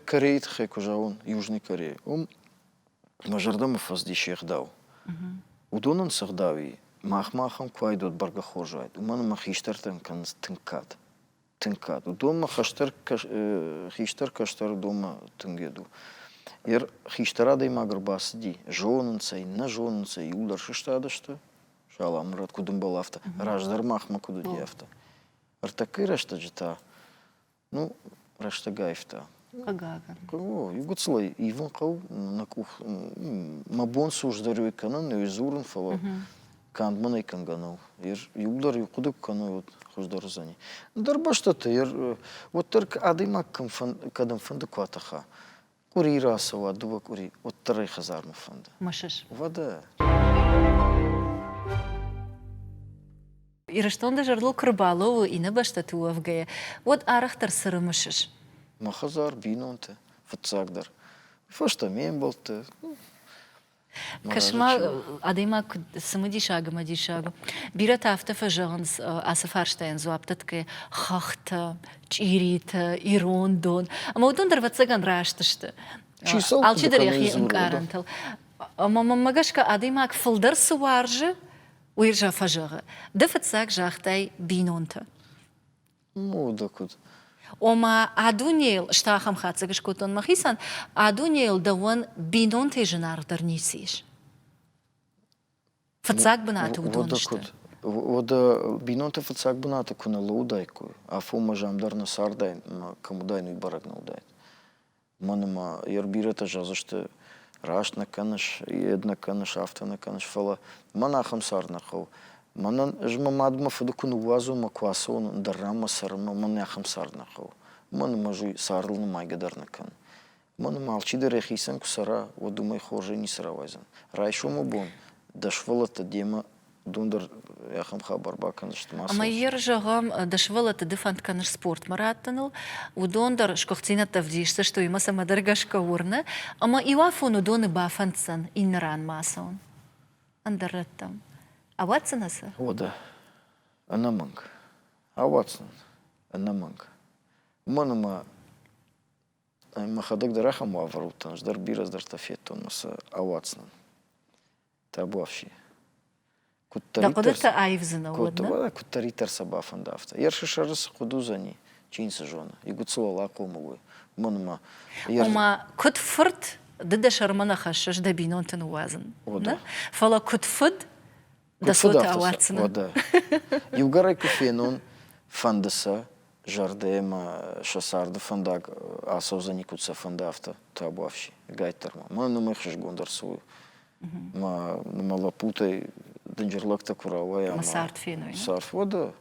Корейы тыххӕй куы зӕгъон, Южный Корея, уым мӕ зӕрдӕмӕ фӕцыдис йе гъдау. Уыдонӕн цы гъдау и, махмӕ ахӕм куы уайдот бӕргӕ хорз уайд, уымӕн ӕмӕ хистӕртӕн кӕнынц тынг кад. Тынг кад. Уыдонмӕ хистӕр, хистӕр кӕстӕр уыдонмӕ тынг йед у. Йе хистӕр адӕймаг ӕрбацыди, зонынц ӕй, нӕ зонынц ӕй, иууылдӕр сыстады сты. Саламурат, куыд ӕмбал, афтӕ. Раздӕр махмӕ куыд уыди, афтӕ. Ӕртӕккӕйы рӕстӕджы та Ну, рӕстӕгӕйфтӕ. Хъыгагӕн. О, Игуцелӕй ивын хъӕу, нӕ къух мӕ бон суждарёй кӕнын, ёй дзурын, фӕлӕ канд мӕнӕй кӕнгӕ нӕу. Иудӕр иу хъуыды куы кӕной, уӕд хуыздӕр уыдзӕни. Ӕндӕр бӕстӕты уӕддӕр адӕймаг кӕдӕмфӕнды куы атӕха, къури рацӕуа дууӕ къури, уӕддӕр ӕй хӕдзармӕ фӕнды. Мысыс? Уӕдӕ. Ирыстон дӕ зӕрдыл куы рбалӕууы иннӕ бӕстӕты уӕвгӕйӕ, уӕд арӕхдӕр цы рымысыс? Мӕ хӕдзар, бинонтӕ, фыццагдӕр. Фӕстӕ ме мбӕлтты. Кӕс-ма, адӕймаг куыд цымыдисаг ӕмӕ диссаг у. Бирӕтӕ афтӕ фӕзӕгъынц ацы фарстайӕн дзуапптӕ тыххӕй хӕхтӕ, чъиритӕ, ирон дон. Ӕмӕ уыдон дӕр ӕвӕццӕгӕн раст сты. Алчидӕр йӕхи ӕнкъарӕнтыл. Ӕмӕ мӕнмӕ гӕсгӕ адӕймаг фылдӕр цы уарзы, уый фӕзӕгъы. Ды фыццаг загътай бинонты. Мода куыд. Ома, а дунейыл, ӕз та ахӕм хатдзӕг скодтон мӕхицӕн, а дунейыл дӕуӕн бинонтӕй зынаргъдӕр ницы ис. Фыццаг бынаты уыдон сты. Уӕдӕ бинонты фыццаг бынаты куы нӕ лӕууыдаиккой, афонмӕ зам дӕр нӕ цардаин ӕмӕ кӕм уыдаин, уый бӕрӕг нӕ уыдаид. Уымӕн ӕмӕ йе рбирӕтӕ зӕгъдзысты, раст нӕ кӕныс, йед нӕ кӕныс, афтӕ нӕ кӕныс. Фӕлӕ мӕн ахӕм цард нӕ хъӕуы. Мӕнӕн, ӕз мӕ мадмӕ фыды куы ныууадзон, мӕ куы ацӕуон ӕндӕр ранмӕ цӕрын, мӕн ахӕм цард нӕ хъӕуы. Уымӕн ӕмӕ ӕз уый цардыл нымайгӕ дӕр нӕ кӕнын. Уымӕн ӕмӕ алчидӕр йӕхицӕн куы цӕра, уӕд уымӕй хорзӕй ницы рауайдзӕн. Райсомы бон дӕ сывӕллӕттӕ демӕ дон дӕр ахӕм хабар бакӕндзысты массовон. Ӕмӕ йӕ зӕгъӕм, ды сывӕллӕтты ды фӕнд кӕныс спортмӕ раттыныл, уыдон дӕр сгуыхтдзинӕдтӕ ӕвдисдзысты, уыимӕ цӕмӕдӕр гӕсгӕ уырны, ӕмӕ иуафон уыдоны бафӕнддзӕн иннӕ ран ма ацӕуын ӕндӕр рӕттӕм. Ауадздзынӕ сӕ? О, да. Ӕнӕмӕнг. Ауадздзӕн. Ӕнӕмӕнг. Уымӕн ӕмӕ мӕхӕдӕг дӕр ахӕм уавӕр уыдтӕн, ӕз дӕр бирӕ дӕртӕ федтон мӕ сӕ ауадздзынӕн. Табуафси. Дӕ хъуыдытӕ аивдзынӕ уӕдӕ? Куыддӕриддӕр сӕ бафӕнда, афтӕ. Ерсы сӕры цы хъуыд уыдзӕни, чи ницы зоны. Игуыцыл уал ахъомыл уой. Мӕнмӕ. Ома, куыд фырт, ды дӕ сӕрмӕ нӕ хӕссыс дӕ бинонты ныууадзын. Нӕ? Фӕлӕ куыд фыд, дӕ цоты ауадздзынӕ. Уӕдӕ. Иугӕрӕй куы фенон, фӕнды сӕ, зӕрдӕмӕ сӕ царды фӕндаг ацӕудзӕни, куыд сӕ фӕнды, афтӕ табуафси, ӕгайтдӕр ма. Мӕнӕ ном ӕхсызгонд ӕрцӕуы. Мӕ мӕ лӕппутӕй дынджыр лӕгтӕ куы рауайа ӕмӕ цард феной. Цард уӕдӕ.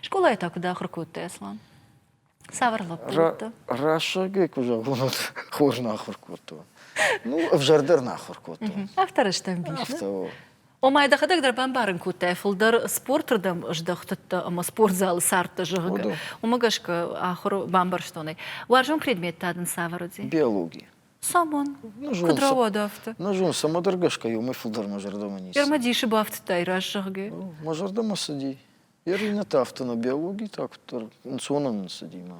Скъолайы та куыд ахуыр кодтай, Аслан? Цавӕр лӕппутӕ? Рӕсугӕй куы зӕгъон, уӕд хорз нӕ ахуыр кодтон. Ну, ӕвзӕрдӕр нӕ ахуыр кодтон. Авторы стӕмбис. Авто. Ома, дӕхӕдӕг дӕр бамбарын кодтай фылдӕр спорты рдӕм здӕхтыдтӕ ӕмӕ спортзалы цардтӕ, зӕгъгӕ. Уымӕ гӕсгӕ ахуыр бамбӕрстон ӕй. Уарзон предмет та дын цавӕр уыди? Биологи. Самон. Нызон, Куыд рауад афтӕ? Нызон, цӕмӕ дӕр гӕсгӕ иу мӕй фылдӕр мӕ зӕрдӕмӕ ницы. Ӕрмӕ дисы бафтыдтай, рас, зӕгъгӕ. Мӕ зӕрдӕмӕ цыди. Йӕ ринӕ та афтӕ нӕ биологи та куыддӕр ӕнцонӕн цыди мӕ.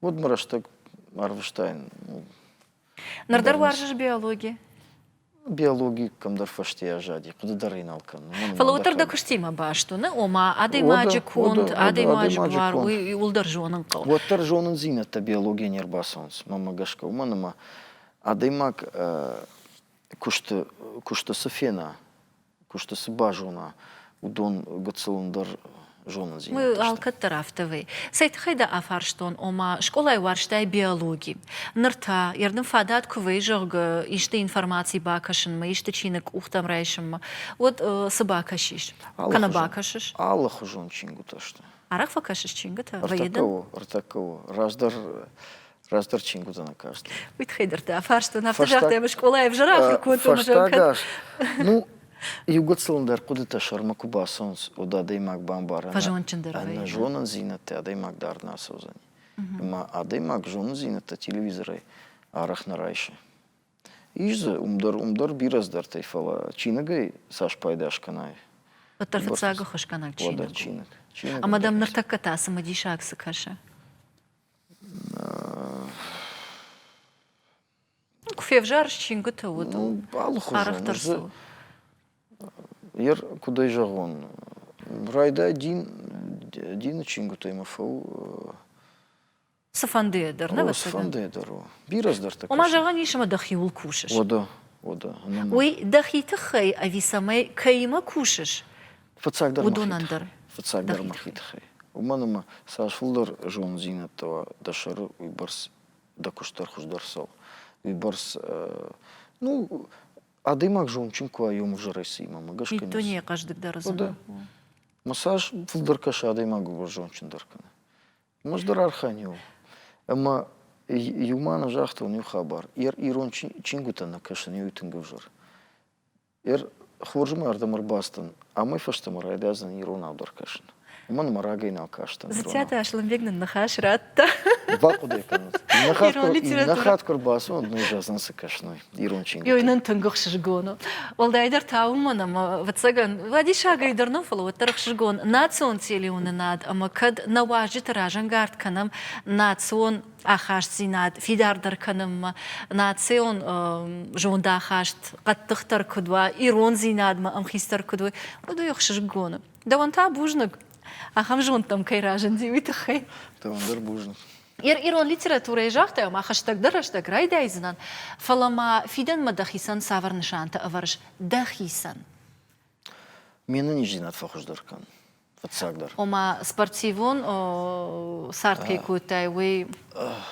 уыд мын рӕстӕг арвыстайын. Ныр дӕр уарзыс биологи? биологи кӕмдӕр фӕстейӕ зади, хъуыды дӕр ӕй нал кӕнын. Фӕлӕ уыддӕр дӕ куыстимӕ баст уыны, ома адӕймаджы конд, адӕймаджы буар, уый уылдӕр зонын хъӕуы. Уӕддӕр зонындзинӕдтӕ биологийӕ не рбацӕуынц, мӕнмӕ гӕсгӕ, уымӕн ӕмӕ адӕймаг куысты куысты цы фена, куысты цы базона, уыдон гыццыл ӕндӕр зонындзинад. Алкӕддӕр афтӕ вӕййы. Цӕй тыххӕй дӕ афарстон, ома, скъолайы уарзтай биологи. Ныр та, йӕ рдын фадат куы вӕййы, зӕгъгӕ, исты информаци бакӕсынмӕ, исты чиныг къухтӕм райсынмӕ, уӕд цы бакӕсис? Кӕнӕ бакӕсыс? Алыхуызон чингуытӕ сты. Арӕх фӕкӕсыс чингуытӕ? Ӕртӕ кӕуы, ӕртӕ кӕуы. Раздӕр Раздӕр чинг уыдзӕн акаст. Уый тыххӕй дӕр та фарстон. Афтӕ загътай, скъолайы ӕвзӕр ахуыр кодтон. Фӕстагас. Ну, иу гыццылын дӕр хъуыдытӕ сӕрмӕ куы бацӕуынц, уӕд адӕймаг бамбарӕн. Фӕзондджындӕр ӕнӕ зонындзинӕдтӕ адӕймаг дӕр нӕ ацӕудзӕни. Ӕмӕ адӕймаг зонындзинӕдтӕ телевизорӕй арӕх нӕ райсы. Ис дзы уым дӕр, уым дӕр бирӕ здӕртӕй, фӕлӕ чиныгӕй цас пайда скӕнай. Уӕддӕр фыццаг хуысгӕнӕг чиныг. Чиныг. Ӕмӕ дӕм ныртӕккӕ та цымыдисаг цы кӕсы? Куы февзарыс чингуыты уыд арӕхдӕр цы у? Йе ркуыдӕй зӕгъон, райдай дин дины чингуытӕй мӕ фӕу. Цыфӕндыйӕ дӕр, нӕ вӕццӕгӕн? Цыфӕндыйӕ дӕр у. Бирӕ цыдӕртӕ кӕсы. Ома зӕгъӕн ис, ӕмӕ дӕхиуыл кусыс? Уӕдӕ, уӕдӕ. Уый дӕхи тыххӕй ӕви цӕмӕй кӕимӕ кусыс, Фыццагдӕр уыдонӕн дӕр. Фыццагдӕр мӕхи тыххӕй. Уымӕн ӕмӕ цас фылдӕр зонддзинӕдтӕ уа дӕ сӕры, уый бӕрц дӕ куыст дӕр хуыздӕр цӕуы. Уый бӕрц, ну, адӕймаг зондджын куы уа ӕмвӕзӕрӕй цыимӕ ӕгас кӕнис. Дунейы хъӕздыгдӕр зоны. Мӕ цас фылдӕр кӕсы, адӕймаг ууыл зондджындӕр кӕны. Ӕмӕ ӕз дӕр архайын иу. Ӕмӕ иу мӕнӕ загътон иу хабар. Ирон чингуытӕ нӕ кӕсын, иу тынг ӕвзӕр. Ир хорзы мӕ ӕрдӕм ӕрбацыдтӕн, амӕй фӕстӕмӕ райдайдзӕн иронау дӕр кӕсын. Уымӕн мӕ рагӕй нал кастӕн. Дзыццаты Аслӕнбег нын ныхас радта. Бахъуыдӕй кӕнут. Иннӕ хатт иннӕ хатт куы рбацӕуон, ноджы уыдзӕн цы кӕсной, ирон чингуытӕ. Йой, нын тынг ӕхсызгон у. Уӕлдайдӕр та уымӕн ӕмӕ, ӕвӕццӕгӕн, вӕдисӕгӕй дӕр нӕ, фӕлӕ уӕддӕр ӕхсызгон национ телеуынынад ӕмӕ кӕд нӕ уазджыты разӕнгард кӕнӕм национ ахастдзинад фидардӕр кӕнынмӕ, национ зондахаст хъӕддыхдӕр куыд уа, ирондзинадмӕ ӕмхицдӕр куыд уой, уыд уый ӕхсызгон у. Дӕуӕн та бузныг, ахӕм зондтӕм кӕй разынди, уый тыххӕй. Дӕуӕн дӕр бузныг. Ирон литературӕйы загътай, ӕмӕ хӕстӕгдӕр рӕстӕг райдайдзынӕн, фӕлӕ ма фидӕнмӕ дӕхицӕн цавӕр нысантӕ ӕвӕрыс дӕхицӕн? Ме нӕниздзинад фӕхуыздӕр кӕн. Фыццагдӕр. Ома, спортивон цард кӕй кодтай, уый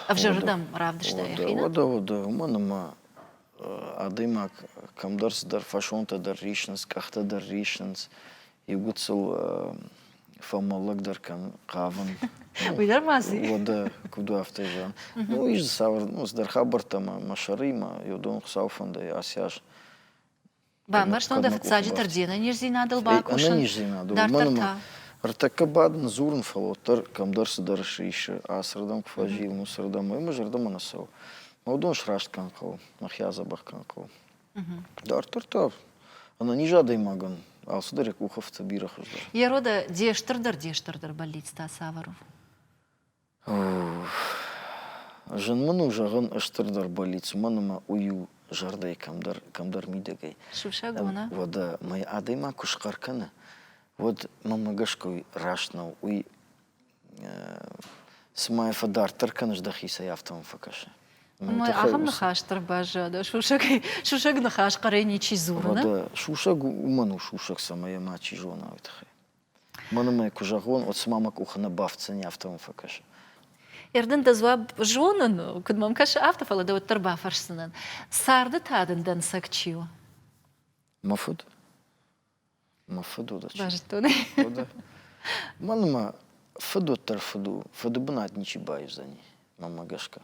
ӕвзӕрырдӕм равдыста йӕхи? Уӕдӕ, уӕдӕ, уымӕн ӕмӕ адӕймаг кӕмдӕр цыдӕр фӕсонтӕ дӕр рисынц, къӕхтӕ дӕр рисынц, иугуыцыл фӕмӕллӕгдӕр кӕн хъавын. Уый дӕр ма дзы Уӕдӕ, куыд у афтӕ зӕгъӕм. Ну, ис дзы цавӕр, ну, цыдӕр хабӕрттӕ мӕ сӕрыимӕ, йӕ дон Хуыцауы фӕндӕй асиас. Бамбӕрстон дӕ фыццаджы дӕр де нӕниздзинадыл бакусын. Ӕнӕниздзинадыл. Мӕн ӕртӕккӕ бадын, дзурын, фӕлӕ уӕддӕр кӕмдӕр цыдӕр сисы, ацырдӕм куы фӕзилын, уыцырдӕм, ӕмӕ зӕрдӕмӕ нӕ цӕуы. Мӕ уыдон сраст кӕн хъӕуы, мӕхи адзӕбӕх кӕн хъӕуы. Дарддӕр та ӕнӕниз адӕймагӕн алцыдӕр йӕ къухы фты бирӕ хуыздӕр. Ерода де стырдӕр-де стырдӕр бӕллицтӕ цавӕр у? Зын мын у зӕгъын стырдӕр болиц, уымӕн ӕмӕ уый у зӕрдӕйы кӕмдӕр, кӕмдӕр мидӕгӕй. Сусӕг уына? Уӕдӕ мӕ адӕймаг куы схъӕр кӕны, уӕд мӕнмӕ гӕсгӕ уый раст нӕу. Уый цыма йӕ фӕдарддӕр кӕныс дӕхицӕй, афтӕ мӕм фӕкӕсы. Мӕй ахӕм ныхас дӕр баззад, сусӕгӕй, сусӕг ныхас хъӕрӕй ничи дзуры, нӕ? Уӕдӕ сусӕг уымӕн у сусӕг, цӕмӕй йӕ мачи зона, уый тыххӕй. Мӕн ӕмӕ куы зӕгъон, уӕд цыма мӕ къухы нӕ бафтдзӕни, афтӕ мӕм фӕкӕсы. Ӕрдын дӕ дзуапп зонын, куыд мӕм кӕсы, афтӕ, фӕлӕ дӕ уӕддӕр бафӕрсдзынӕн, царды та дын дӕнцӕг чи у? Мӕ фыд. Мӕ фыд уыд. Бӕзтон. Мӕн ӕмӕ фыд уӕддӕр фыд у. Фыды бынат ничи баивдзӕни, мӕнмӕ гӕсгӕ.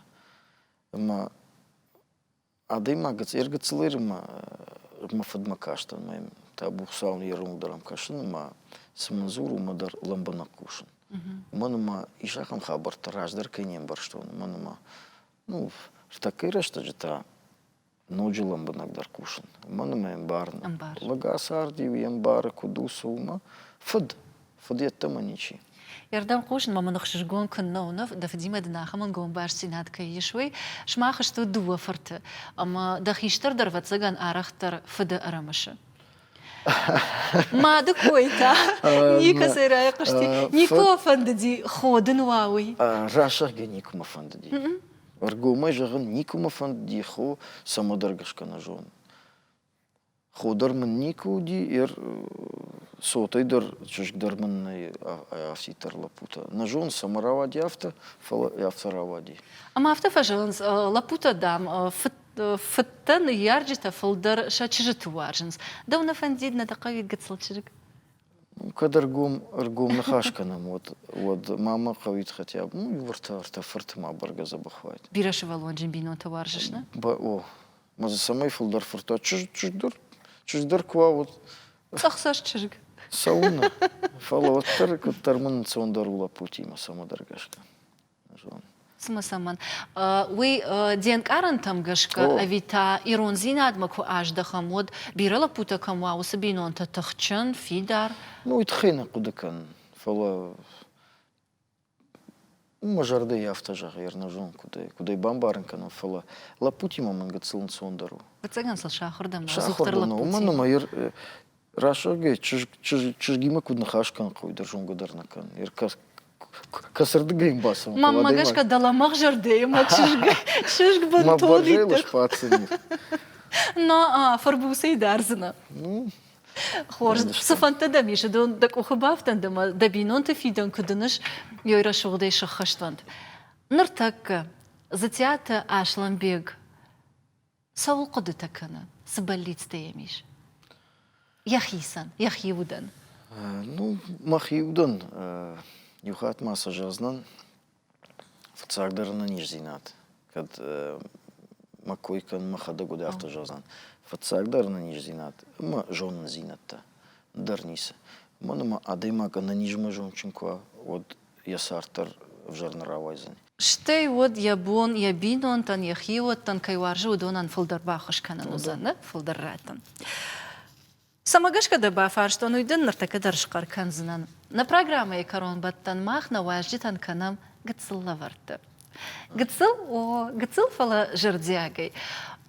Ӕмӕ Адӕймаг гыцъыр-гыццыл Ирымӕ мӕ фыдмӕ кастӕн мӕ табу Хуыцауӕн йӕ ронг дӕр ӕм кӕсын ӕмӕ цы мын дзур, уымӕ дӕр лӕмбынӕг хъусын. Уымӕн ӕмӕ ис ахӕм хабӕрттӕ, раздӕр кӕй не мбӕрстон, уымӕн ӕмӕ, ну, ӕртӕккӕйы рӕстӕджы та ноджы лӕмбынӕгдӕр хъусын. Уымӕн ӕмӕ ӕмбарын. Ӕмбарын. Лӕг ацард-иу йе мбары куыд у, цы, уымӕ. Фыд, Фыд йеддӕмӕ ничи. Ирдӕм хъусынмӕ мын ӕхсызгон куыннӕ уынов, дӕ фыдимӕ дын ахӕм ӕнгомбастдзинад кӕй ис, уый. Сымах стут дыууӕ фырты, ӕмӕ дӕ хистӕр дӕр, ӕвӕццӕгӕн, арӕхдӕр фыды ӕрымысы. Мады кой та никӕцӕй райхъуысти. Никуы фӕндыди ходын уа уый. Рӕсугъдӕй никуыма фӕндыди. Ӕргомӕй зӕгъын, никуыма фӕндыди хо, цӕмӕдӕр гӕсгӕ нӕ зонын. Худыр мын никуы уыди, йе цотӕй дӕр чызг дӕр мын нӕй афтиддӕр лӕппутӕ. Нӕ зон, цӕмӕ рауади афтӕ, фӕлӕ афтӕ рауади. Ӕмӕ афтӕ фӕзылынц лӕппутӕ, дам, фыдтӕ, ныййарджытӕ фылдӕр сӕ чызджыты уарзынц. Дӕу нӕ фӕндид нӕ дӕ хъӕуи гыццыл чызг? Кӕд ӕргом, ӕргом ныхас кӕнӕм, уӕд, уӕд ма мӕ хъӕуид хотя бы иу ӕртӕ, ӕртӕ фырты ма бӕргӕ дзӕбӕх уаид. Бирӕ сывӕллонджын бинонтӕ уарзыс, нӕ? О, Мӕ дзы цӕмӕй фылдӕр фырта чызг, чызгдӕр, чызгдӕр куы уа, уӕд Цъӕхсӕст чызг. цӕуылнӕ? Фӕлӕ уӕддӕр, куыддӕр мын национдӕр у лӕппутимӕ цӕмӕдӕр гӕсгӕ. Зон. Цымӕ цӕмӕн? Уый де нкъарӕнтӕм гӕсгӕ ӕви та ирондзинадмӕ куы аздӕхӕм, уӕд бирӕ лӕппутӕ кӕм уа, уыцы бинонтӕ тыхджын, фидар? Ну, уый тыххӕй нӕ хъуыды кӕнын, фӕлӕ Мӕ зӕрдӕйы афтӕ зӕгъы, ӕрнӕзон куыд у, куыд ӕй бамбарын кӕнӕм, фӕлӕ лӕппутимӕ мӕнг гыццыл ӕнцондӕр у. Ӕвӕццӕгӕн сыл сахуырдӕр нӕу, сахуырдӕр нӕу, уымӕн ӕмӕ йӕ рӕсугӕй чызг чызгимӕ куыд ныхас кӕн хъӕуы, дӕр зонгӕ дӕр нӕ кӕн. Кӕцырдыгӕй ӕм бацӕуын хъӕуы. Мӕнмӕ гӕсгӕ дӕлӕ мӕ зӕрдӕйы мӕ чызг чызг бынтон итых. Мӕ бӕрзӕйлы сбаддзӕни. Но фырбуцӕй дардзынӕ. Ну, Хорз. Цыфӕндтӕ дӕм ис, дон дӕ къухы бафтӕнт ӕмӕ дӕ бинонты фидӕн куы дыныс, ёй рӕсугъдӕй сыххӕствӕнт. Ныртӕккӕ Дзытиаты Аслӕнбег цӕуыл хъуыдытӕ кӕны? Цы бӕллицтӕ йӕм ис? Йӕхицӕн, йӕхи удӕн. Ну, мӕхи удӕн иу хатт ма сӕ зӕгъдзынӕн, Фыццагдӕр ын низдзинад. Кӕд мӕ кой кӕн, мӕхӕдӕг уӕд афтӕ зӕгъдзӕн. Фыццагдӕр ын низдзинад ӕмӕ зонындзинӕдтӕ дӕр ницы. Уымӕн ӕмӕ адӕймаг ӕнӕнизмӕ зондджын куы уа, уӕд йӕ цард дӕр ӕвзӕр нӕ рауайдзӕни. Стӕй уӕд йӕ бон, йӕ бинонтӕн, йӕ хиуӕттӕн кӕй уарзы, уыдонӕн фылдӕр баххуыс кӕнын уыдзӕн, фылдӕр раттын. Цӕмӕ гӕсгӕ дӕ бафарстон, уый дын ныртӕккӕ дӕр схъӕр кӕндзынӕн. Нӕ программӕйы кӕронбӕттӕн мах нӕ уазджытӕн кӕнӕм гыццыл лӕвӕртты. Гыццыл? О, гыццыл, фӕлӕ зӕрдиагӕй.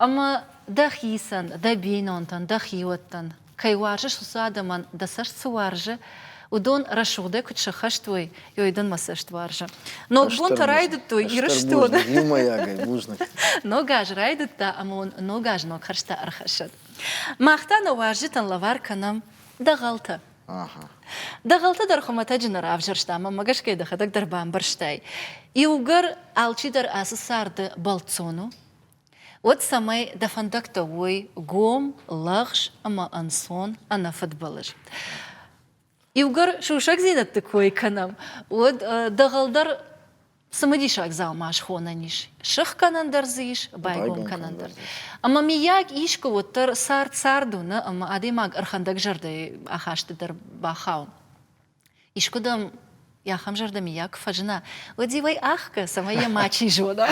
Ӕмӕ дӕхицӕн, дӕ бинонтӕн, дӕ хиуӕттӕн кӕй уарзыс, уыцы адӕмӕн дӕ цӕст цы уарзы, уыдон рӕсугъдӕй куыд сӕххӕст уой, уый дын мӕ цӕст уарзы. Ног бонтӕ райдыдтой Ирыстоны. Бузныг, иумӕйагӕй бузныг. Ног аз райдыдта ӕмӕ уын ног аз ног хӕрзтӕ ӕрхӕссӕд. Мах та нӕ уарзджытӕн лӕвар кӕнӕм дӕгъӕлтӕ. Ага. Дӕгъӕлтӕ дӕр хуымӕтӕджы нӕ равзӕрстам, ӕмӕ гӕсгӕй дӕхӕдӕг дӕр бамбӕрстай. Иугӕр алчидӕр ацы царды бӕлццон у, уӕд цӕмӕй дӕ фӕндӕгтӕ уой гом, лӕгъз ӕмӕ ӕнцон, ӕнӕфыдбылыз. Иугӕр сусӕгдзинӕдты кой кӕнӕм, уӕд дӕгъӕл дӕр цымыдисаг дзаума схонӕн ис, сыхгӕнӕн дӕр дзы ис, байгом кӕнӕн дӕр. Ӕмӕ, миййаг, искуы уӕддӕр цард цард уыны ӕмӕ адӕймаг ӕрхӕндӕгзӕрдӕйы ахасты дӕр бахауын. Искуыдӕм йӕ ахӕм зӕрдӕ миййаг куы фӕзына, уӕд иу ӕй ахгӕ, цӕмӕй йӕ мачи зона.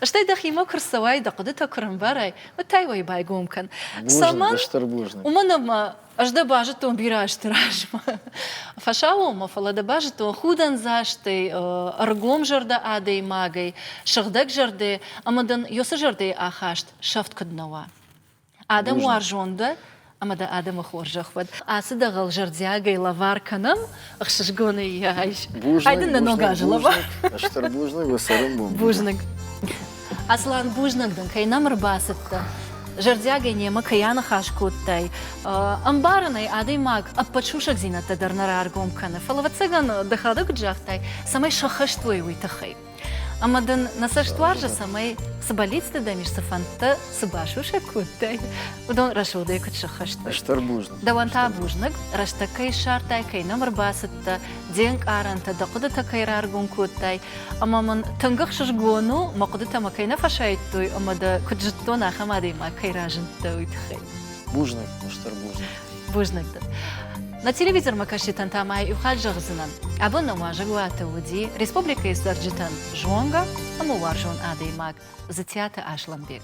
Стӕй дӕхимӕ куы рцӕуай, дӕ хъуыдытӕ куы рӕмбарай, уӕд та уӕй байгом кӕн. Цӕмӕн? Стыр бузныг. Уымӕн ӕмӕ ӕз дӕ базыдтон бирӕ азты размӕ. Фӕсаууонмӕ, фӕлӕ дӕ базыдтон худӕндзастӕй, ӕргом зӕрдӕ адӕймагӕй, сыгъдӕг зӕрдӕ ӕмӕ дын ёсы зӕрдӕйы ахаст сӕфт куыд нӕ уа. Адӕм уарзон дӕ ӕмӕ дӕ адӕмы хорзӕх уӕд. Ацы дӕгъӕл зӕрдиагӕй лӕвар кӕнӕм, ӕхсызгонӕй йӕ айс. Айдын нӕ ног азы лӕвар. Стыр бузныг уӕ цӕрӕнбон. Бузныг. Аслан, бузныг дын, кӕй нӕм ӕрбацыдтӕ. Зӕрдиагӕй немӕ кӕй аныхас кодтай. Ӕмбарӕн ӕй, адӕймаг ӕппӕт сусӕгдзинӕдтӕ дӕр нӕ раргом кӕны. Фӕлӕ, ӕвӕццӕгӕн, дӕхӕдӕг куыд загътай, цӕмӕй сӕххӕст уой, уый тыххӕй. Ӕмӕ дын нӕ цӕстуарзы цӕмӕй цы бӕллицты дӕм ис, цы фӕндтӕ, цы басусӕг кодтай, уыдон рӕсугъдӕй куыд сыххӕстой? Стыр бузныг. Дӕуӕн та бузныг, рӕстӕг кӕй ссардтай, кӕй нӕм ӕрбацыдтӕ, де нкъарӕнтӕ, дӕ хъуыдытӕ кӕй раргом кодтай. Ӕмӕ мын тынг ӕхсызгон у, мӕ хъуыдытӕ мӕ кӕй нӕ фӕсайдтой ӕмӕ дӕ куыд зыдтон, ахӕм адӕймаг кӕй разындтӕ, уый тыххӕй. Бузныг, стыр бузныг. Бузныг дын. На телевизормӕ кӕсджытӕн та ма иухатт зӕгъдзынӕн, абон номуазӕг уаты уыди республикӕйы цӕрджытӕн зонгӕ ӕмӕ уарзон адӕймаг Дзытиаты Аслӕнбег.